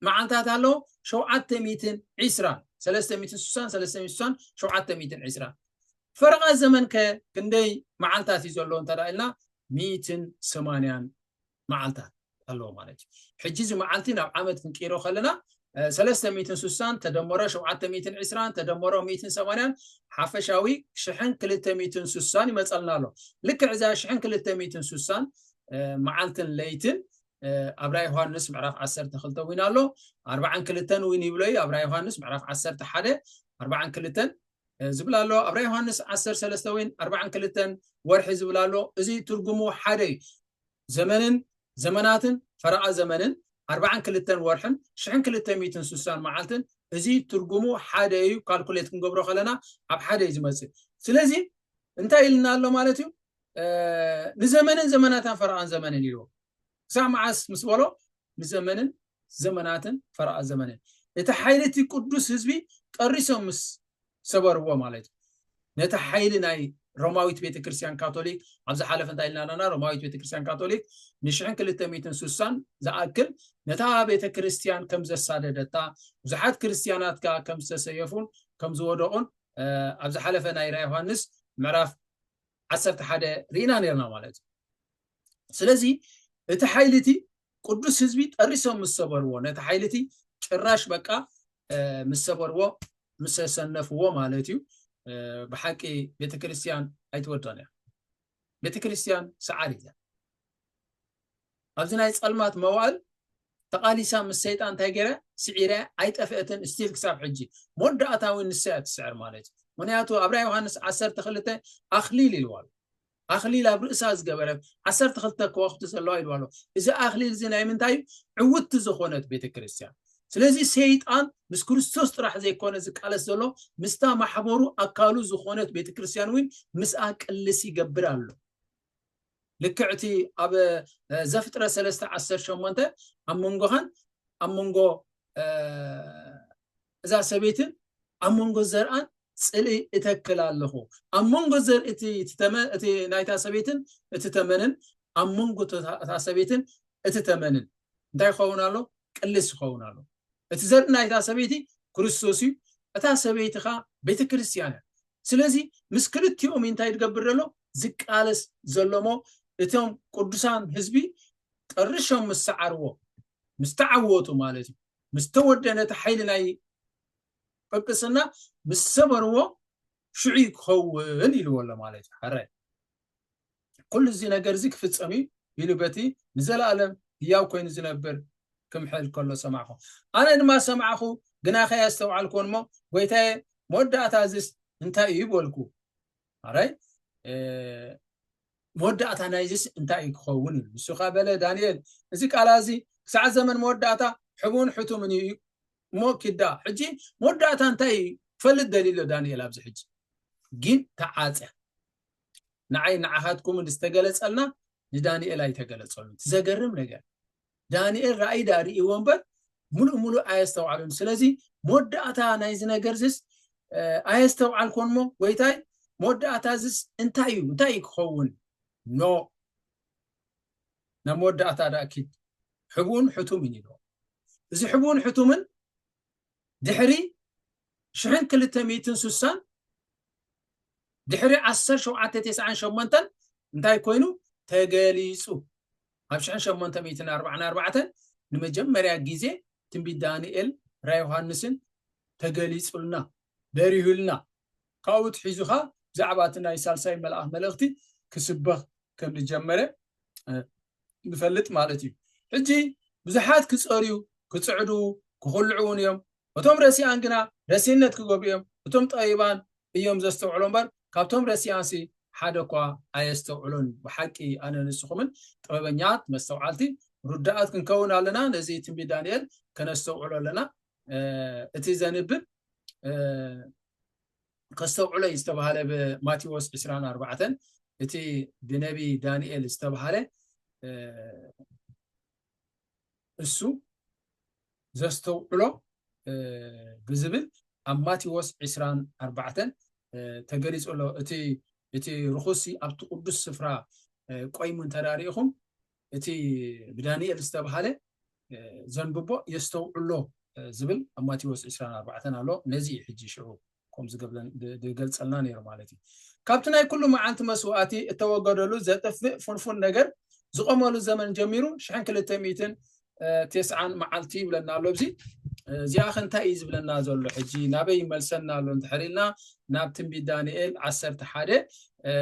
S1: መዓልታት ኣሎ ሸውዓተ ሚእትን ዒስራን ሰለስተ ሚእትን ስሳን ሰለስተ ሚእትን ስሳን ሸውዓተ ሚእትን ዒስራን ፈረቓ ዘመን ከ ክንደይ መዓልታት እዩ ዘሎ እንተ ኢልና ሚእትን ሰማንያን መዓልታት ኣለዎ ማለት እዩ ሕጂ እዚ መዓልቲ ናብ ዓመት ክንቅይሮ ከለና ሰለስተ ሚእትን ስሳን ተደመሮ ሸውዓተ ሚእትን ዕስራን ተደመሮ ሚእትን ሰማንያን ሓፈሻዊ ሽሕን ክልተ ሚእትን ስሳን ይመፀልና ኣሎ ልክዕ እዛ ሽሕን ክልተ ሚእትን ስሳን መዓልትን ለይትን ኣብ ራእይ ዮሃንስ ምዕራፍ ዓሰርተ ክልተ እውን ኣሎ ኣርባዓን ክልተን እውን ይብሎ እዩ ኣብ ራእይ ዮሃንስ ምዕራፍ ዓሰርተ ሓደ ኣርባዓን ክልተን ዝብል ኣሎ ኣብ ራእይ ዮሃንስ ዓሰርተ ሰለስተ እውን ኣርባዓን ክልተን ወርሒ ዝብል ኣሎ እዚ ትርጉሙ ሓደ እዩ ዘመንን ዘመናትን ፈረቓ ዘመንን ኣርባዓን ክልተን ወርሕን ሽሕን ክልተ ሚትን ስሳን መዓልትን እዚ ትርጉሙ ሓደ እዩ ካልኩሌት ክንገብሮ ከለና ኣብ ሓደ እዩ ዝመፅእ ስለዚ እንታይ ኢልና ኣሎ ማለት እዩ ንዘመንን ዘመናታን ፈረቓን ዘመንን ኢልዎ ክሳብ መዓስ ምስ በሎ ንዘመንን ዘመናትን ፈረቓ ዘመንን እቲ ሓይሊ እቲ ቅዱስ ህዝቢ ጠሪሶም ምስ ሰበርዎ ማለት እዩ ነቲ ሓይሊ ናይ ሮማዊት ቤተክርስትያን ካቶሊክ ኣብ ዝሓለፈ እንታይ ኢልና ኣለና ሮማዊት ቤተክርስትያን ካቶሊክ ንሽሕን ክልተ ሚትን ስሳን ዝኣክል ነታ ቤተክርስትያን ከም ዘሳደደታ ብዙሓት ክርስትያናት ከ ከም ዝተሰየፉን ከም ዝወደቑን ኣብ ዝሓለፈ ናይ ራ ዮሃንስ ምዕራፍ ዓሰርተ ሓደ ርኢና ነርና ማለት እዩ ስለዚ እቲ ሓይሊ እቲ ቅዱስ ህዝቢ ጠሪሶም ምስ ሰበርዎ ነቲ ሓይሊ እቲ ጭራሽ በቃ ምስ ሰበርዎ ምስ ሰነፍዎ ማለት እዩ ብሓቂ ቤተክርስትያን ኣይትወዶን እያ ቤተክርስትያን ሰዓር እያ ኣብዚ ናይ ጸልማት መዋእል ተቃሊሳ ምስ ሰይጣን እንታይ ገይራ ስዒረ ኣይጠፍአትን ስቲል ክሳብ ሕጂ መወዳእታ እውን ንሳ እያ ትስዕር ማለት እዩ ምክንያቱ ኣብ ራእይ ዮሃንስ ዓሰርተ ክልተ ኣክሊል ኢልዋ ኣሎ ኣክሊል ኣብ ርእሳ ዝገበረት ዓሰርተ ክልተ ከዋክብቲ ዘለዋ ኢልዋ ኣሎ እዚ ኣክሊል እዚ ናይ ምንታይ እዩ ዕውቲ ዝኾነት ቤተ ክርስትያን ስለዚ ሰይጣን ምስ ክርስቶስ ጥራሕ ዘይኮነ ዝቃለስ ዘሎ ምስታ ማሕበሩ ኣካሉ ዝኾነት ቤተ ክርስትያን እውን ምስኣ ቅልስ ይገብር ኣሎ ልክዕ እቲ ኣብ ዘፍጥረት ሰለስተ ዓሰርተ ሸሞንተ ኣብ መንጎኻን ኣብ መንጎ እዛ ሰበይትን ኣብ መንጎ ዘርኣን ፅልኢ እተክል ኣለኹ ኣብ መንጎ ዘርኢ እቲ ናይታ ሰበይትን እቲ ተመንን ኣብ መንጎ እታ ሰበይትን እቲ ተመንን እንታይ ይኸውን ኣሎ ቅልስ ይኸውን ኣሎ እቲ ዘርኢ ናይታ ሰበይቲ ክርስቶስ እዩ እታ ሰበይቲ ኸዓ ቤተ ክርስትያን እያ ስለዚ ምስ ክልቲኦም ኢንታይ ድገብር ደሎ ዝቃለስ ዘሎ እሞ እቶም ቁዱሳን ህዝቢ ጠርሾም ምስ ሰዓርዎ ምስ ተዓወቱ ማለት እዩ ምስ ተወደ ነቲ ሓይሊ ናይ ጵጵስና ምስ ሰበርዎ ሽዑ ክኸውን ኢልዎ ኣሎ ማለት እዩ ሐራይ ኩሉ እዚ ነገር እዚ ክፍጸም እዩ ኢሉ በቲ ንዘለኣለም ህያው ኮይኑ ዝነብር ክምሕል ከሎ ሰማዕኹ ኣነ ድማ ሰማዕኹ ግና ከየስተውዓልኩዎን እሞ ጎይታየ መወዳእታ እዚስ እንታይ እዩ በልኩ ኣራይ መወዳእታ ናይዚስ እንታይ እዩ ክኸውን እዩ ንሱ ከዓ በለ ዳንኤል እዚ ቃላ እዚ ክሳዕ ዘመን መወዳእታ ሕቡን ሕቱምን እዩ እሞ ኪዳ ሕጂ መወዳእታ እንታይ እዩ ክፈልጥ ደልዩ ኣሎ ዳንኤል ኣብዚ ሕጂ ግን ተዓፀ ንዓይን ንዓኻትኩምን ዝተገለጸልና ንዳንኤል ኣይተገለጸሉን። እቲ ዘገርም ነገር ዳንኤል ራእይ ድኣ ርእይዎ እምበር ሙሉእ ሙሉእ ኣየስተውዓሉን። ስለዚ መወዳእታ ናይዚ ነገር ዝስ ኣየስተውዓልኮን እሞ ጎይታይ መወዳእታ ዝስ እንታይ እዩ እንታይ እዩ ክኸውን ኖ ናብ መወዳእታ ድኣ ኪድ ሕቡን ሕቱምን ኢልዎ እዚ ሕቡን ሕቱምን ድሕሪ ሽሕን ክልተ ሚእትን ስሳን ድሕሪ ዓሰርተ ሸውዓተ ተስዓን ሸሞንተን እንታይ ኮይኑ ተገሊጹ ኣብ ሽሕን ሸሞንተ ሚእትን ኣርባዕን ኣርባዕተን ንመጀመርያ ግዜ ትንቢት ዳንኤል ራ ዮሃንስን ተገሊጹልና በሪሁልና ካብኡ ትሒዙ ከኣ ብዛዕባ እቲ ናይ ሳልሳይ መልኣኽ መልእኽቲ ክስበኽ ከም ዝጀመረ ንፈልጥ ማለት እዩ። ሕጂ ብዙሓት ክጸርዩ፣ ክጽዕዱ፣ ክኹልዑ እውን እዮም። እቶም ረሲኣን ግና ረሲእነት ክገብሩ እዮም። እቶም ጠቢባን እዮም ዘስተውዕሉ እምበር፣ ካብቶም ረሲኣንሲ ሓደ እኳ ኣየስተውዕሎን። ብሓቂ ኣነን ንስኹምን ጥበበኛት፣ መስተውዓልቲ፣ ርዱኣት ክንከውን ኣለና፣ ነዚ ትንቢት ዳንኤል ከነስተውዕሎ ኣለና። እቲ ዘንብብ ከስተውዕሎ እዩ ዝተባሃለ ብማቴዎስ ዕስራን ኣርባዕተን እቲ ብነቢ ዳንኤል ዝተባሃለ እሱ ዘስተውዕሎ ብዝብል ኣብ ማቴዎስ ዕስራን ኣርባዕተን ተገሊፁ ኣሎ እቲ እቲ ርኹሲ ኣብቲ ቅዱስ ስፍራ ቆይሙ እንተዳሪኢኹም እቲ ብዳንኤል ዝተብሃለ ዘንብቦ የስተውዕሎ ዝብል ኣብ ማቴዎስ ዕስራን ኣርባዕተን ኣሎ። ነዚ እዩ ሕጂ ሽዑ ከምኡ ዝገብለን ብ- ዝገልጸልና ነይሩ ማለት እዩ። ካብቲ ናይ ኩሉ መዓልቲ መስዋእቲ እተወገደሉ ዘጥፍእ ፍንፉን ነገር ዝቖመሉ ዘመን ጀሚሩ ሽሕን ክልተ ሚእትን እ፣ ቴስዓን መዓልቲ ይብለና ኣሎ ኣብዚ እ፣ እዚኣ ከ እንታይ እዩ ዝብለና ዘሎ ሕጂ ናበይ ይመልሰና ኣሎ እንድሕር ኢልና ናብ ትንቢት ዳንኤል ዓሰርተ ሓደ እ፣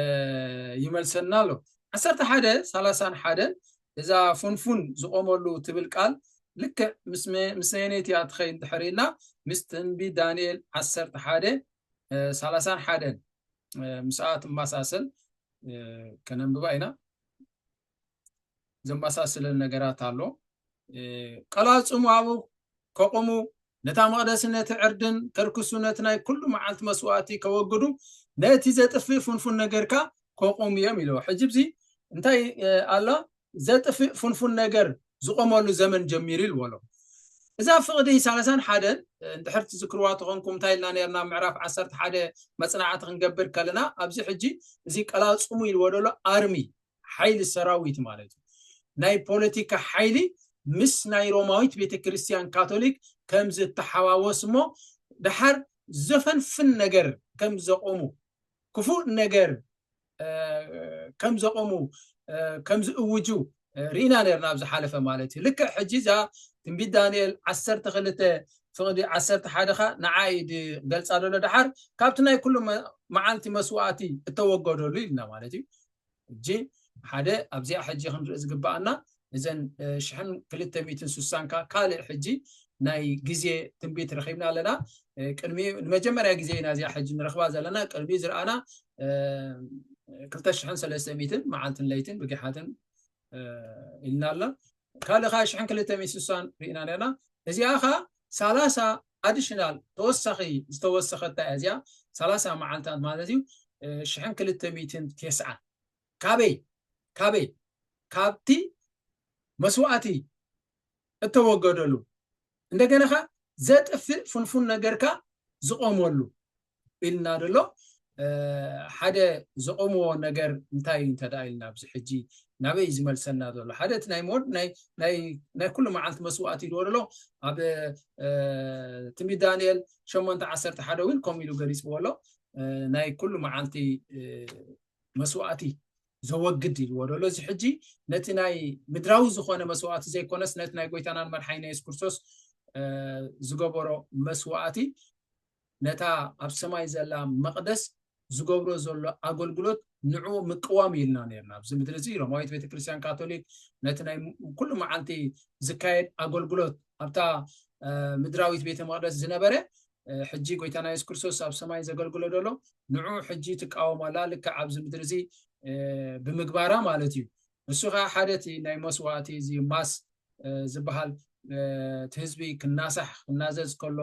S1: ይመልሰና ኣሎ። ዓሰርተ ሓደ ሰላሳን ሓደን እዛ ፉንፉን ዝቆመሉ ትብል ቃል ልክዕ ምስ ኣየነይቲ እያ ትኸይድ እንድሕር ኢልና ምስ ትንቢት ዳንኤል ዓሰርተ ሓደ ሰላሳን ሓደን ምስኣ ትመሳሰል ከነንብባ ኢና ዘመሳስለን ነገራት ኣሎ ቀላጽሙ ኣብኡ ከቑሙ ነታ መቕደሲ ነቲ ዕርድን ከርክሱ ነቲ ናይ ኩሉ መዓልቲ መስዋእቲ ከወግዱ ነቲ ዘጥፍእ ፍንፉን ነገርካ ከቑሙ እዮም ኢለዎ ሕጂ ብዚ እንታይ ኣላ ዘጥፍእ ፍንፉን ነገር ዝቆመሉ ዘመን ጀሚሩ ኢልዎ ኣሎ እዛ ፍቕዲ ሳለሳን ሓደን እንድሕር ትዝክርዋ ተኾንኩም እንታይ ኢልና ነርና ምዕራፍ ዓሰርተ ሓደ መፅናዕቲ ክንገብር ከለና ኣብዚ ሕጂ እዚ ቀላፅሙ ኢልዎ ደሎ ኣርሚ ሓይሊ ሰራዊት ማለት እዩ ናይ ፖለቲካ ሓይሊ ምስ ናይ ሮማዊት ቤተ ክርስቲያን ካቶሊክ ከም ዝተሓዋወስ እሞ ድሓር ዘፈንፍን ነገር ከም ዘቆሙ ክፉእ ነገር ከም ዘቆሙ ከም ዝእውጁ ርኢና ነርና ኣብ ዝሓለፈ ማለት እዩ ልክዕ ሕጂ እዛ ትንቢት ዳንኤል ዓሰርተ ክልተ ፍቕዲ ዓሰርተ ሓደ ኸ ንዓ ኢድ ገልጻ ደሎ ድሓር ካብቲ ናይ ኩሉ መዓልቲ መስዋእቲ እተወገደሉ ኢልና ማለት እዩ ሕጂ ሓደ ኣብዚኣ ሕጂ ክንርኢ ዝግብኣና እዘን ሽሕን ክልተ ሚእትን ስሳን ከ ካልእ ሕጂ ናይ ግዜ ትንቢት ረኺብና ኣለና ቅድሚ ንመጀመርያ ግዜ ኢና እዚኣ ሕጂ ንረኽባ ዘለና ቅድሚ ዝረኣና ክልተ ሽሕን ሰለስተ ሚእትን መዓልትን ለይትን ብጊሓትን ኢልና ኣላ ካልእ ከ ሽሕን ክልተ ሚእቲ ስሳን ርኢና ነርና እዚኣ ከ ሳላሳ ኣዲሽናል ተወሳኺ ዝተወሰኸታ እያ እዚኣ ሳላሳ መዓልታት ማለት እዩ ሽሕን ክልተ ሚእትን ቴስዓን ካበይ ካበይ ካብቲ መስዋእቲ እተወገደሉ እንደገና ከ ዘጥፍእ ፍንፉን ነገርካ ዝቆመሉ ኢልና ደሎ ሓደ ዘቆምዎ ነገር እንታይ እንተ ኢልና ኣብዚ ሕጂ ናበይ ዝመልሰና ዘሎ ሓደ እቲ ናይ ሞድ ናይ ኩሉ መዓልቲ መስዋእቲ ኢልዎ ደሎ ኣብ ትንቢት ዳንኤል ሸሞንተ ዓሰርተ ሓደ እውን ከምኡ ኢሉ ገሊፅዎ ኣሎ ናይ ኩሉ መዓልቲ መስዋእቲ ዘወግድ ኢልዎ ደሎ እዚ ሕጂ ነቲ ናይ ምድራዊ ዝኾነ መስዋእቲ ዘይኮነስ ነቲ ናይ ጎይታናን መርሓይና የሱስ ክርስቶስ ዝገበሮ መስዋእቲ ነታ ኣብ ሰማይ ዘላ መቕደስ ዝገብሮ ዘሎ ኣገልግሎት ንዕኡ ምቅዋም እዩ ኢልና ነርና። ኣብዚ ምድሪ እዚ ሮማዊት ቤተ ክርስቲያን ካቶሊክ ነቲ ናይ ኩሉ መዓልቲ ዝካየድ ኣገልግሎት ኣብታ ምድራዊት ቤተ መቕደስ ዝነበረ ሕጂ ጎይታና የሱስ ክርስቶስ ኣብ ሰማይ ዘገልግሎ ደሎ ንዑ ሕጂ ትቃወም ኣላ ልክዕ ኣብዚ ምድሪ እዚ ብምግባራ ማለት እዩ ንሱ ከኣ ሓደ እቲ ናይ መስዋእቲ እዚ ማስ ዝበሃል እቲ ህዝቢ ክናሳሕ ክናዘዝ ከሎ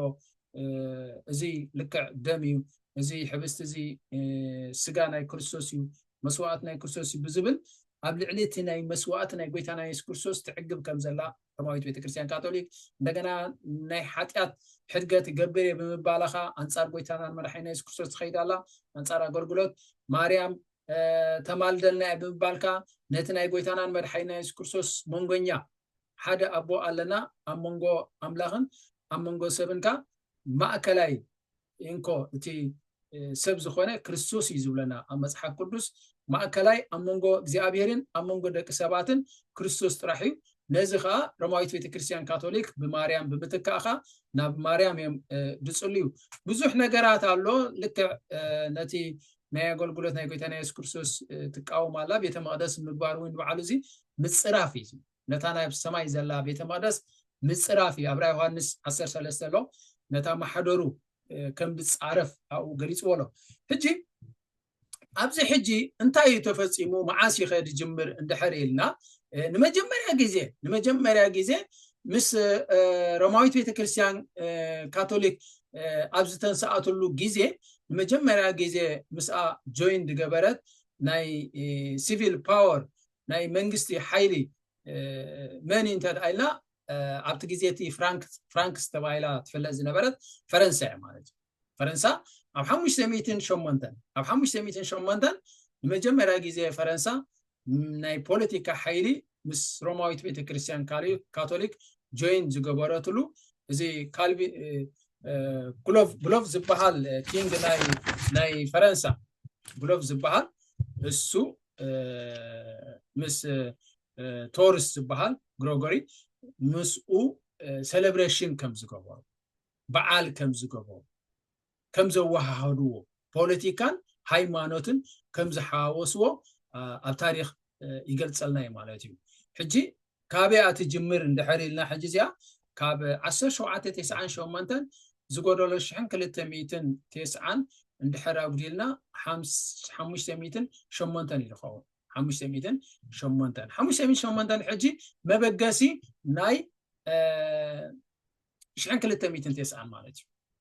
S1: እዚ ልክዕ ደም እዩ እዚ ሕብስቲ እዚ ስጋ ናይ ክርስቶስ እዩ መስዋእቲ ናይ ክርስቶስ እዩ ብዝብል ኣብ ልዕሊ እቲ ናይ መስዋእቲ ናይ ጎይታና የሱስ ክርስቶስ ትዕግብ ከም ዘላ ሮማዊት ቤተክርስትያን ካቶሊክ እንደገና ናይ ሓጢኣት ሕድገት እገብር እየ ብምባላኻ ኣንጻር ጎይታናን መራሒና የሱስ ክርስቶስ ትኸይድ ኣላ ኣንጻር ኣገልግሎት ማርያም ተማልደልና እያ ብምባልካ ነቲ ናይ ጎይታናን መድሓኒና የሱስ ክርስቶስ መንጎኛ ሓደ ኣቦ ኣለና ኣብ መንጎ ኣምላኽን ኣብ መንጎ ሰብን ከ ማእከላይ እንኮ እቲ ሰብ ዝኾነ ክርስቶስ እዩ ዝብለና ኣብ መጽሓፍ ቅዱስ ማእከላይ ኣብ መንጎ እግዚኣብሔርን ኣብ መንጎ ደቂ ሰባትን ክርስቶስ ጥራሕ እዩ ነዚ ከዓ ሮማዊት ቤተክርስትያን ካቶሊክ ብማርያም ብምትካእኻ ናብ ማርያም እዮም ዝፅልዩ ብዙሕ ነገራት ኣሎ ልክዕ ነቲ ናይ ኣገልግሎት ናይ ጎይታና የሱስ ክርስቶስ ትቃወም ኣላ ቤተ መቅደስ ምግባር እውን በዓሉ እዚ ምፅራፍ እዩ ነታ ናይ ሰማይ ዘላ ቤተ መቅደስ ምፅራፍ እዩ ኣብራ ዮሃንስ 13 ኣሎ ነታ ማሕደሩ ከም ዝፃረፍ ኣብኡ ገሊፅዎ ኣሎ ሕጂ ኣብዚ ሕጂ እንታይ እዩ ተፈፂሙ መዓስ ይኸ ድጅምር እንድሕር ኢልና ንመጀመርያ ግዜ ንመጀመርያ ግዜ ምስ ሮማዊት ቤተክርስትያን ካቶሊክ ኣብ ዝተንስኣትሉ ግዜ ንመጀመርያ ግዜ ምስኣ ጆይን ዝገበረት ናይ ሲቪል ፓወር ናይ መንግስቲ ሓይሊ መን እንተ ኢልና ኣብቲ ግዜ እቲ ፍራንክስ ተባሂላ ትፍለጥ ዝነበረት ፈረንሳ እያ ማለት እዩ ፈረንሳ ኣብ ሓሙሽተ ሚእትን ሸሞንተን ኣብ ሓሙሽተ ሚእትን ሸሞንተን ንመጀመርያ ግዜ ፈረንሳ ናይ ፖለቲካ ሓይሊ ምስ ሮማዊት ቤተክርስትያን ካቶሊክ ጆይን ዝገበረትሉ እዚ ካልቪ ግሎቭ ግሎቭ ዝበሃል ኪንግ ናይ ናይ ፈረንሳ ግሎቭ ዝበሃል እሱ ምስ ቶርስ ዝበሃል ግሮጎሪ ምስኡ ሴሌብሬሽን ከም ዝገበሩ በዓል ከም ዝገበሩ ከም ዘወሃሃድዎ፣ ፖለቲካን ሃይማኖትን ከም ዝሓዋወስዎ ኣብ ታሪኽ ይገልጸልና እዩ ማለት እዩ። ሕጂ ካበይ እያ ትጅምር እንድሕር ኢልና ሕጂ እዚኣ ካብ ዓሰርተ ሸውዓተ ቴስዓን ሸሞንተን ዝጎደሎ ሽሕን ክልተ ሚእትን ቴስዓን እንድሕር ኣጉዲልና ሓሙሽተ ሚእትን ሸሞንተን እዩ ዝኸውን። ሓሙሽተ ሚእትን ሸሞንተን ሓሙሽተ ሚእትን ሸሞንተን ሕጂ መበገሲ ናይ ሽሕን ክልተ ሚእትን ቴስዓን ማለት እዩ።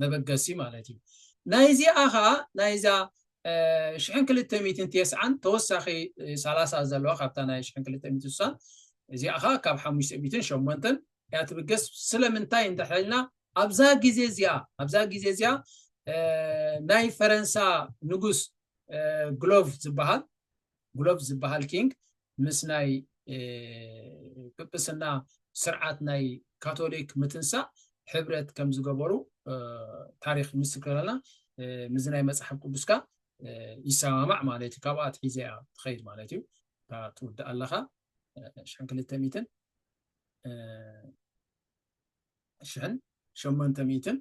S1: መበገሲ ማለት እዩ። ናይዚኣ ከኣ ናይዛ ሽሕን ክልተ ሚእትን ቴስዓን ተወሳኺ ሰላሳ ዘለዋ ካብታ ናይ ሽሕን ክልተ ሚእትን ስሳን እዚኣ ከኣ ካብ ሓሙሽተ ሚእትን ሸሞንተን እያ ትብገስ። ስለምንታይ እንድሕር ኢልና ኣብዛ ግዜ እዚኣ ኣብዛ ግዜ እዚኣ ናይ ፈረንሳ ንጉስ ግሎቭ ዝበሃል ጉሎቭ ዝበሃል ኪንግ ምስ ናይ ጵጵስና ስርዓት ናይ ካቶሊክ ምትንሳእ ሕብረት ከም ዝገበሩ ታሪኽ ይምስክረልና። ምስዚ ናይ መጽሓፍ ቅዱስ ከኣ ይሰማማዕ ማለት እዩ። ካብኣ ኣትሒዛ እያ ትኸይድ ማለት እዩ። እታ ትውድእ ኣለኻ ሽሕን ክልተ ሚእትን ሽሕን ሸሞንተ ሚእትን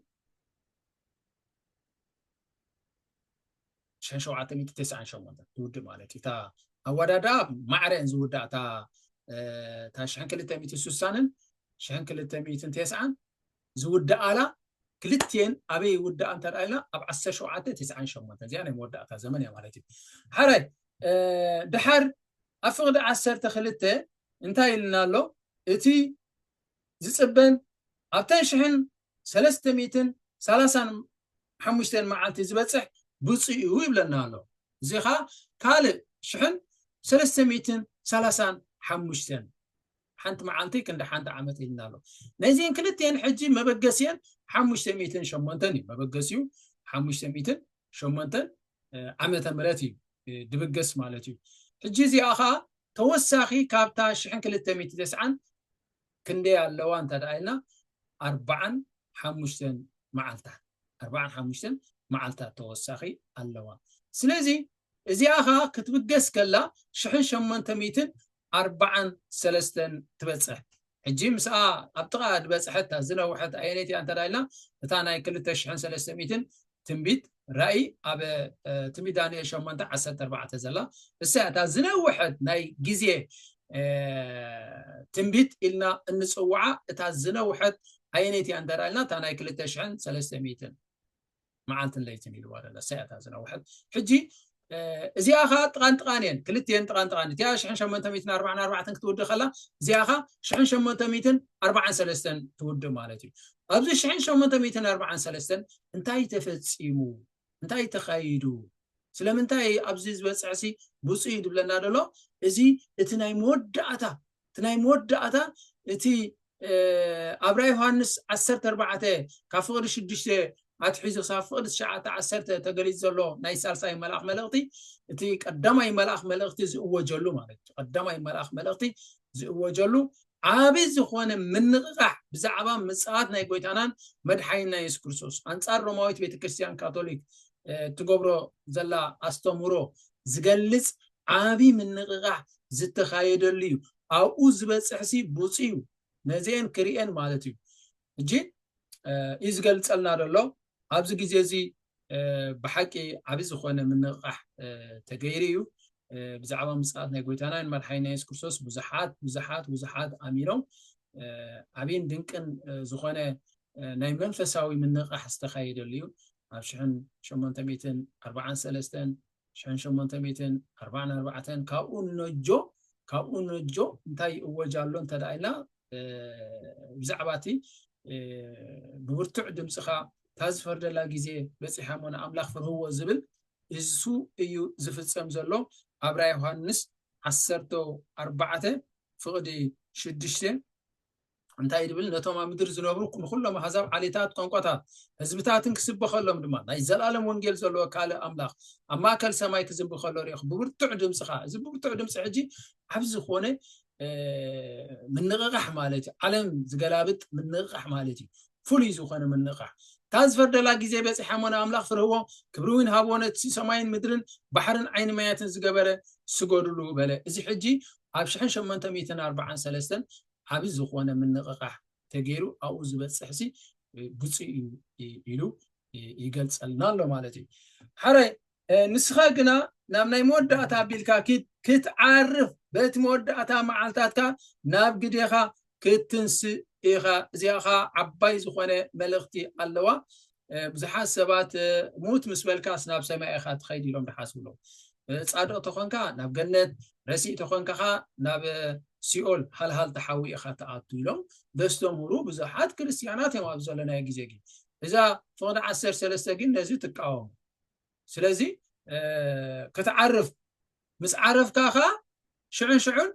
S1: ሽሕን ሸውዓተ ሚእቲ ተስዓን ሸሞንተን ትውድእ ማለት እዩ እታ ኣወዳድኣ ማዕረን ዝውዳእ እታ ሽሕን ክልተ ሚእቲ ስሳንን ሽሕን ክልተ ሚእትን ተስዓን ዝውድኣላ ክልትኤን ኣበይ ይውድኣ እንተርኣ ኢልና ኣብ ዓሰርተ ሸውዓተ ተስዓን ሸሞንተ እዚኣ ናይ መወዳእታ ዘመን እያ ማለት እዩ ሓራይ ድሓር ኣብ ፍቕዲ ዓሰርተ ክልተ እንታይ ኢልና ኣሎ እቲ ዝጽበን ኣብተን ሽሕን ሰለስተ ሚእትን ሰላሳን ሓሙሽተን መዓልቲ ዝበጽሕ ብጹእ'ዩ ይብለና ኣሎ። እዚ ኸኣ ካልእ ሽሕን ሰለስተ ሚእትን ሰላሳን ሓሙሽተን ሓንቲ መዓልቲ ክንዲ ሓንቲ ዓመት ኢልና ኣሎ። ነዚን ክልቲኤን ሕጂ መበገሲኤን ሓሙሽተ ሚእትን ሸሞንተን እዩ። መበገሲኡ ሓሙሽተ ሚእትን ሸሞንተ ዓመተ ምህረት እዩ ድብገስ ማለት እዩ ሕጂ እዚኣ ከዓ ተወሳኺ ካብታ ሽሕን ክልተ ሚእቲ ተስዓን ክንደይ ኣለዋ እንተ ደኣ ኢልና ኣርባዓን ሓሙሽተን መዓልታት ኣርባዓን ሓሙሽተን መዓልታት ተወሳኺ ኣለዋ ስለዚ እዚኣ ከዓ ክትብገስ ከላ ሽሕን ሸሞንተ ሚእትን ኣርባዓን ሰለስተን ትበጽሕ ሕጂ ምስኣ ኣብ ጥቓ ዝበጽሐት ዝነውሐት ኣየነይቲ እያ እንተ ኢልና እታ ናይ ክልተ ሽሕን ሰለስተ ሚእትን ትንቢት ራእይ ኣብ ትንቢት ዳንኤል ሸሞንተ ዓሰርተ ኣርባዕተ ዘላ እሳ እታ ዝነውሐት ናይ ግዜ ትንቢት ኢልና እንፅውዓ እታ ዝነውሐት ኣየነይቲ እያ እንተ ኢልና እታ ናይ ክልተ ሽሕን ሰለስተ ሚእትን መዓልትን ለይትን ኢልዋ ደላ ንሳ እያ እታ ዝነውሐት ሕጂ እዚኣ ከዓ ጥቃን ጥቃን እየን ክልቲኤን ጥቃን ጥቃን እቲኣ ሽሕን ሸመንተ ሚትን ኣርባዕን ኣርባዕተን ክትውድእ ከላ እዚኣ ከዓ ሽሕን ሸመንተ ሚትን ኣርባዓን ሰለስተን ትውድእ ማለት እዩ ኣብዚ ሽሕን ሸመንተ ሚትን ኣርባዓን ሰለስተን እንታይ ተፈፂሙ እንታይ ተኻይዱ ስለምንታይ ኣብዚ ዝበፅሕሲ ብፁይ ዝብለና ደሎ እዚ እቲ ናይ መወዳእታ እቲ ናይ መወዳእታ እቲ ኣብ ራእይ ዮሃንስ ዓሰርተ ኣርባዕተ ካብ ፍቕዲ ሽዱሽተ ኣትሒዙ ክሳብ ፍቕዲ ትሽዓተ ዓሰርተ ተገሊጹ ዘሎ ናይ ሳልሳይ መልኣኽ መልእኽቲ እቲ ቀዳማይ መልኣኽ መልእኽቲ ዝእወጀሉ ማለት እዩ ቀዳማይ መልኣኽ መልእኽቲ ዝእወጀሉ ዓብዪ ዝኾነ ምንቕቓሕ ብዛዕባ ምጽኣት ናይ ጎይታናን መድሓኒና የሱስ ክርስቶስ ኣንጻር ሮማዊት ቤተ ክርስቲያን ካቶሊክ እትገብሮ ዘላ ኣስተምህሮ ዝገልጽ ዓቢ ምንቕቓሕ ዝተኻየደሉ እዩ ኣብኡ ዝበጽሕሲ ቡጹ እዩ ነዚኤን ክሪኤን ማለት እዩ ሕጂ እዩ ዝገልጸልና ዘሎ ኣብዚ ግዜ እዚ ብሓቂ ዓቢ ዝኾነ ምንቕቓሕ ተገይሩ እዩ ብዛዕባ ምጽኣት ናይ ጎይታናን መርሓይ ናይ የሱስ ክርስቶስ ብዙሓት ብዙሓት ብዙሓት ኣሚኖም ዓብይን ድንቅን ዝኾነ ናይ መንፈሳዊ ምንቕቃሕ ዝተኻየደሉ እዩ ኣብ ሽሕን ሸሞንተ ሚእትን ኣርባዓን ሰለስተን ሸሕን ሸሞንተ ሚእትን ኣርባዓን ኣርባዕተን ካብኡ ንነጆ ካብኡ ንነጆ እንታይ ይእወጅ ኣሎ እንተ ኢልና ብዛዕባ እቲ ብብርቱዕ ድምፅኻ እታ ዝፈርደላ ግዜ በፂሓ እሞ ንኣምላኽ ፍርህዎ ዝብል እሱ እዩ ዝፍፀም ዘሎ ኣብ ራ ዮሃንስ ዓሰርተ ኣርባዕተ ፍቕዲ ሽዱሽተ እንታይ ድብል ነቶም ኣብ ምድሪ ዝነብሩ ንኹሎም ኣሕዛብ ዓሌታት ቋንቋታት ህዝብታትን ክስበኸሎም ድማ ናይ ዘላለም ወንጌል ዘለዎ ካልእ ኣምላኽ ኣብ ማእከል ሰማይ ክዝንቢ ከሎ ሪኢኹ ብብርቱዕ ድምፂ ከዓ እዚ ብብርቱዕ ድምፂ ሕጂ ዓብ ዝኾነ ምንቕቓሕ ማለት እዩ ዓለም ዝገላብጥ ምንቕቓሕ ማለት እዩ ፍሉይ ዝኾነ ምንቕቓሕ እታ ዝፈርደላ ግዜ በፂሓ ሞነ ኣምላኽ ፍርህዎ ክብሪ እውን ሃብዎ ነቲ ሰማይን ምድርን ባሕርን ዓይኒ ማያትን ዝገበረ ስገድሉ በለ እዚ ሕጂ ኣብ 1843 ዓቢ ዝኾነ ምንቕቓሕ ተገይሩ ኣብኡ ዝበጽሕሲ ብጹእ እዩ ኢሉ ይገልጸልና ኣሎ ማለት እዩ ሓራይ ንስኻ ግና ናብ ናይ መወዳእታ ኣቢልካ ኪድ ክትዓርፍ በቲ መወዳእታ መዓልታትካ ናብ ግዴኻ ክትንስእ ኢኻ እዚኣ ኸዓ ዓባይ ዝኾነ መልእኽቲ ኣለዋ ብዙሓት ሰባት ሙት ምስ በልካስ ናብ ሰማይ ኢኻ ትኸይድ ኢሎም ዝሓስብሎም ፃድቕ ተኾንካ ናብ ገነት ረሲእ ተኾንካ ኸ ናብ ሲኦል ሃልሃል ተሓዊ ኢኻ ትኣቱ ኢሎም ዘስተምህሩ ብዙሓት ክርስትያናት እዮም ኣብ ዘለናዮ ግዜ ግን እዛ ፍቕዲ ዓሰርተ ሰለስተ ግን ነዚ ትቃወሙ ስለዚ ክትዓርፍ ምስ ዓረፍካ ከኣ ሽዑን ሽዑን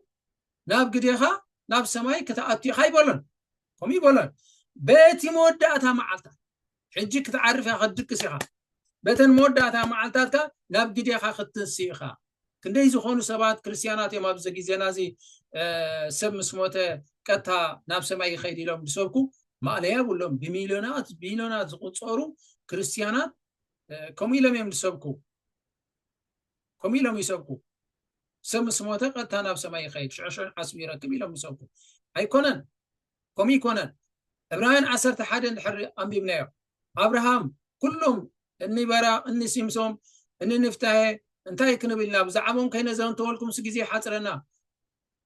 S1: ናብ ግዴኻ ናብ ሰማይ ክትኣቱ ኢኻ ይበሎን ከምኡ ይበሎን በቲ መወዳእታ መዓልታት ሕጂ ክትዓርፍ ኢኻ ክትድቅስ ኢኻ በተን መወዳእታ መዓልታትካ ናብ ግዴኻ ክትንሲ ኢኻ ክንደይ ዝኾኑ ሰባት ክርስትያናት እዮም ኣብዚ ግዜና እዚ ሰብ ምስ ሞተ ቀጥታ ናብ ሰማይ ይኸይድ ኢሎም ዝሰብኩ ማእለያ ብሎም ብሚልዮናት ቢልዮናት ዝቁፀሩ ክርስትያናት ከምኡ ኢሎም እዮም ዝሰብኩ ከምኡ ኢሎም ይሰብኩ ሰብ ምስ ሞተ ቀጥታ ናብ ሰማይ ይኸይድ ሽዑሽዑ ዓስቢ ይረክብ ኢሎም ይሰብኩ ኣይኮነን ከምኡ ይኮነን ዕብራውያን ዓሰርተ ሓደ እንድሕሪ ኣንቢብናዮ ኣብርሃም ኩሎም እኒ በራቅ እኒ ሲምሶም እኒ ንፍታሄ እንታይ ክንብልና ብዛዕባኦም ከይነዘንተወልኩምስ ግዜ ሓፅረና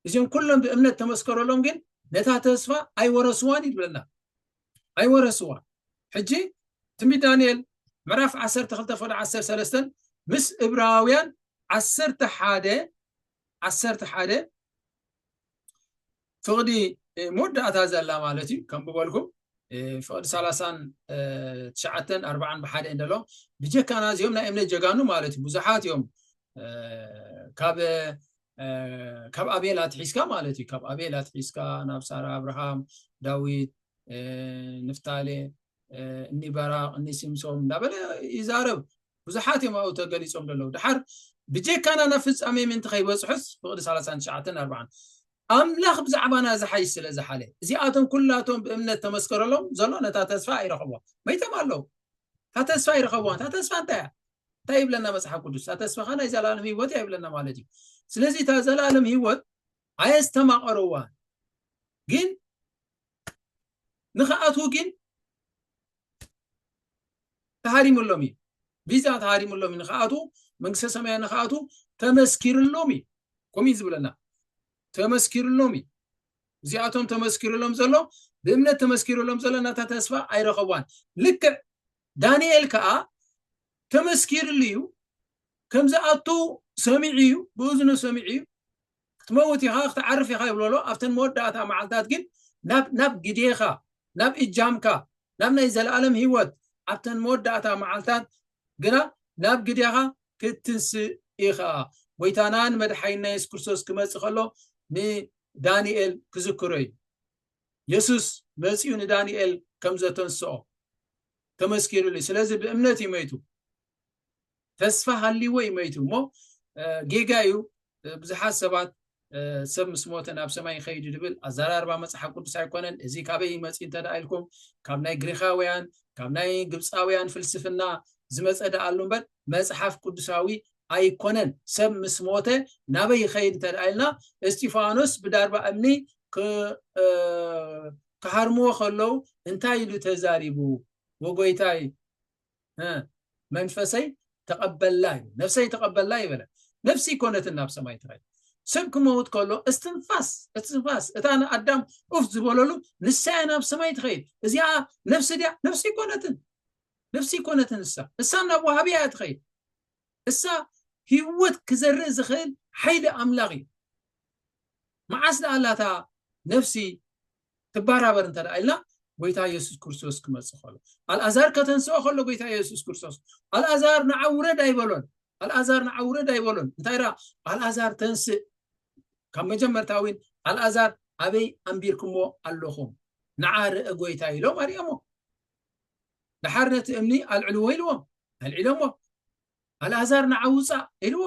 S1: እዚኦም ኩሎም ብእምነት ተመስከረሎም ግን ነታ ተስፋ ኣይወረስዋን እዩ ዝብለና ኣይወረስዋን ሕጂ ትንቢት ዳንኤል ምዕራፍ 12 ፍቅዲ 13 ምስ እብራውያን 11 11 ፍቅዲ መወዳእታ ዘላ ማለት እዩ ከም ብበልኩም ፍቅዲ 39 40 ብሓደ እንደሎ ብጀካና እዚኦም ናይ እምነት ጀጋኑ ማለት እዩ ብዙሓት እዮም ካብ ካብ ኣቤል ኣትሒዝካ ማለት እዩ ካብ ኣቤል ኣትሒዝካ ናብ ሳራ ኣብርሃም ዳዊት ንፍታሌ እኒ በራቅ እኒ ሲምሶም እንዳበለ ይዛረብ ብዙሓት እዮም ኣብኡ ተገሊፆም ዘለዉ ድሓር ብጀካና ናብ ፍፃሜ ምእንቲ ከይበፅሑስ ፍቅዲ 39 4 ኣምላኽ ብዛዕባና ዝሓይሽ ስለ ዝሓለ እዚኣቶም ኩላቶም ብእምነት ተመስከረሎም ዘሎ ነታ ተስፋ ኣይረኸቧ መይቶም ኣለዉ እታ ተስፋ ኣይረኸቧ እታ ተስፋ እንታይ እያ እንታይ ይብለና መጽሓፍ ቅዱስ? እታ ተስፋኻ ናይ ዘላለም ህይወት እያ ይብለና ማለት እዩ። ስለዚ እታ ዘላለም ህይወት ኣየስተማቐርዋ ግን ንኽኣትዉ ግን ተሃሪሙሎም እዩ ቪዛ ተሃሪሙሎም እዩ ንኽኣትዉ መንግስተ ሰማያ ንኽኣትዉ ተመስኪርሎም እዩ ከምኡ እዩ ዝብለና ተመስኪርሎም እዩ እዚኣቶም ተመስኪርሎም ዘሎ ብእምነት ተመስኪርሎም ዘሎ ናታ ተስፋ ኣይረኸቧን ልክዕ ዳንኤል ከኣ ተመስኪርሉ እዩ፣ ከም ዝኣቱ ሰሚዑ እዩ፣ ብእዝኑ ሰሚዑ እዩ፣ ክትመውት ኢኻ፣ ክትዓርፍ ኢኻ ይብሎ ኣሎ፣ ኣብተን መወዳእታ መዓልታት ግን ናብ ናብ ግዴኻ፣ ናብ እጃምካ፣ ናብ ናይ ዘለኣለም ህይወት፣ ኣብተን መወዳእታ መዓልታት ግና ናብ ግዴኻ ክትትንስእ ኢኻ። ጐይታናን መድሓኒና የሱስ ክርስቶስ ክመጽእ ከሎ ንዳንኤል ክዝክሮ እዩ። የሱስ መጺኡ ንዳንኤል ከም ዘተንስኦ ተመስኪሩሉ እዩ። ስለዚ ብእምነት እዩ መይቱ። ተስፋ ሃልይዎ እዩ መይቱ እሞ ጌጋ እዩ ብዙሓት ሰባት ሰብ ምስ ሞተ ናብ ሰማይ ይኸይድ ዝብል ኣዘራርባ መፅሓፍ ቅዱስ ኣይኮነን እዚ ካበይ ይመፅ እንተ ኢልኩም ካብ ናይ ግሪኻውያን ካብ ናይ ግብፃውያን ፍልስፍና ዝመፀ ደኣሉ እምበር መፅሓፍ ቅዱሳዊ ኣይኮነን ሰብ ምስ ሞተ ናበይ ይኸይድ እንተድኣ ኢልና እስጢፋኖስ ብዳርባ እምኒ ክሃርምዎ ከለው እንታይ ኢሉ ተዛሪቡ ወጎይታይ መንፈሰይ ተቐበላ እዩ ነፍሰይ ተቐበላ ይበለ ነፍሲ ኮነትን ናብ ሰማይ ትኸይድ ሰብ ክመውት ከሎ እስትንፋስ እስትንፋስ እታ ንኣዳም ኡፍ ዝበለሉ ንሳያ ናብ ሰማይ ትኸይድ እዚኣ ነፍሲ ድያ ነፍሲ ኮነትን ነፍሲ ኮነትን እሳ እሳ ናብ ዋሃብያ እያ ትኸይድ እሳ ሂወት ክዘርእ ዝኽእል ሓይሊ ኣምላኽ እዩ መዓስ ደኣ ኣላ እታ ነፍሲ ትባራበር እንተ ደኣ ኢልና ጎይታ የሱስ ክርስቶስ ክመጽእ ከሎ ኣልኣዛር ከተንስኦ ከሎ ጎይታ የሱስ ክርስቶስ ኣልኣዛር ንዓ ውረድ ኣይበሎን ኣልኣዛር ንዓ ውረድ ኣይበሎን እንታይ ደኣ ኣልኣዛር ተንስእ ካብ መጀመርታ እውን ኣልኣዛር ኣበይ ኣንቢርኩሞ ኣለኹም ንዓ ርእ ጎይታ ኢሎም ኣርኦሞ ደሓር ነቲ እምኒ ኣልዕልዎ ኢልዎም ኣልዒሎምዎ ኣልኣዛር ንዓ ውፃእ ኢልዎ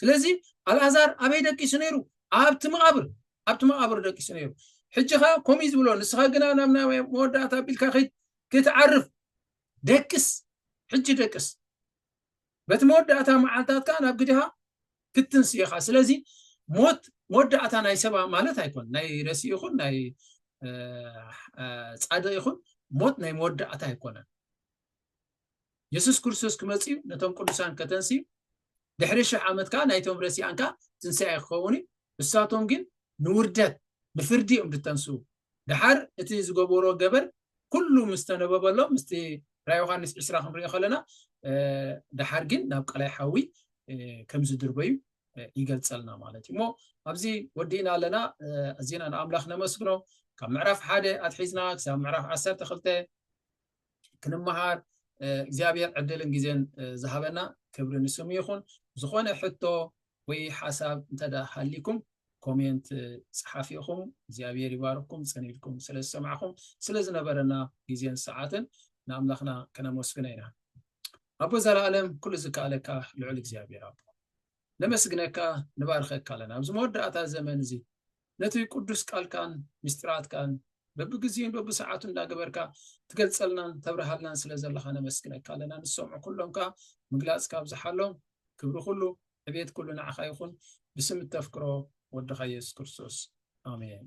S1: ስለዚ ኣልኣዛር ኣበይ ደቂሱ ነይሩ ኣብቲ መቓብር ኣብቲ መቓብር ደቂሱ ነይሩ ሕጂ ከ ከምኡ ዝብሎ ንስኻ ግና ናብ ናይ መወዳእታ ኣቢልካ ክትዓርፍ ደቅስ ሕጂ ደቅስ በቲ መወዳእታ መዓልታትካ ናብ ግድኻ ክትትንስእ ኢኻ ስለዚ ሞት መወዳእታ ናይ ሰባ ማለት ኣይኮን ናይ ረሲ ይኹን ናይ ፃድቅ ይኹን ሞት ናይ መወዳእታ ኣይኮነን የሱስ ክርስቶስ ክመፅዩ ነቶም ቅዱሳን ከተንስዩ ድሕሪ ሽሕ ዓመት ከዓ ናይቶም ረሲኣን ከዓ ትንስኣ ክኸውን እዩ ንሳቶም ግን ንውርደት ንፍርዲ እዮም ዝተንስኡ ደሓር እቲ ዝገበሮ ገበር ኩሉ ምስ ተነበበሎም ምስቲ ራእይ ዮሃንስ ዕስራ ክንሪኦ ከለና ደሓር ግን ናብ ቀላይ ሓዊ ከም ዝድርበዩ ይገልጸልና ማለት እዩ እሞ ኣብዚ ወዲእና ኣለና ኣዚና ንኣምላኽ ነመስግኖ ካብ ምዕራፍ ሓደ ኣትሒዝና ክሳብ ምዕራፍ ዓሰርተ ክልተ ክንመሃር እግዚኣብሔር ዕድልን ግዜን ዝሃበና ክብሪ ንስሙ ይኹን። ዝኾነ ሕቶ ወይ ሓሳብ እንተዳ ሃሊኩም ኮሜንት ጽሓፍ ኢኹም። እግዚኣብሔር ይባርኩም ጸኒልኩም ስለ ዝሰማዕኹም ስለ ዝነበረና ግዜን ሰዓትን ንኣምላኽና ከነመስግነ ኢና። ኣቦ ዘለኣለም ኩሉ ዝከኣለካ ልዑል እግዚኣብሔር ኣቦ ነመስግነካ ንባርኸካ ኣለና ኣብዚ መወዳእታ ዘመን እዚ ነቲ ቅዱስ ቃልካን ምስጢራትካን በብግዜኡን በብሰዓቱን እንዳገበርካ ትገልጸልናን ተብርሃልናን ስለ ዘለኻ ነመስግነካ ኣለና ንሰምዑ ኩሎም ከኣ ምግላጽ ካብ ዝሓሎም ክብሪ ኩሉ ዕቤት ኩሉ ንዓኻ ይኹን ብስም እተፍቅሮ ወድኻ የሱስ ክርስቶስ ኣሜን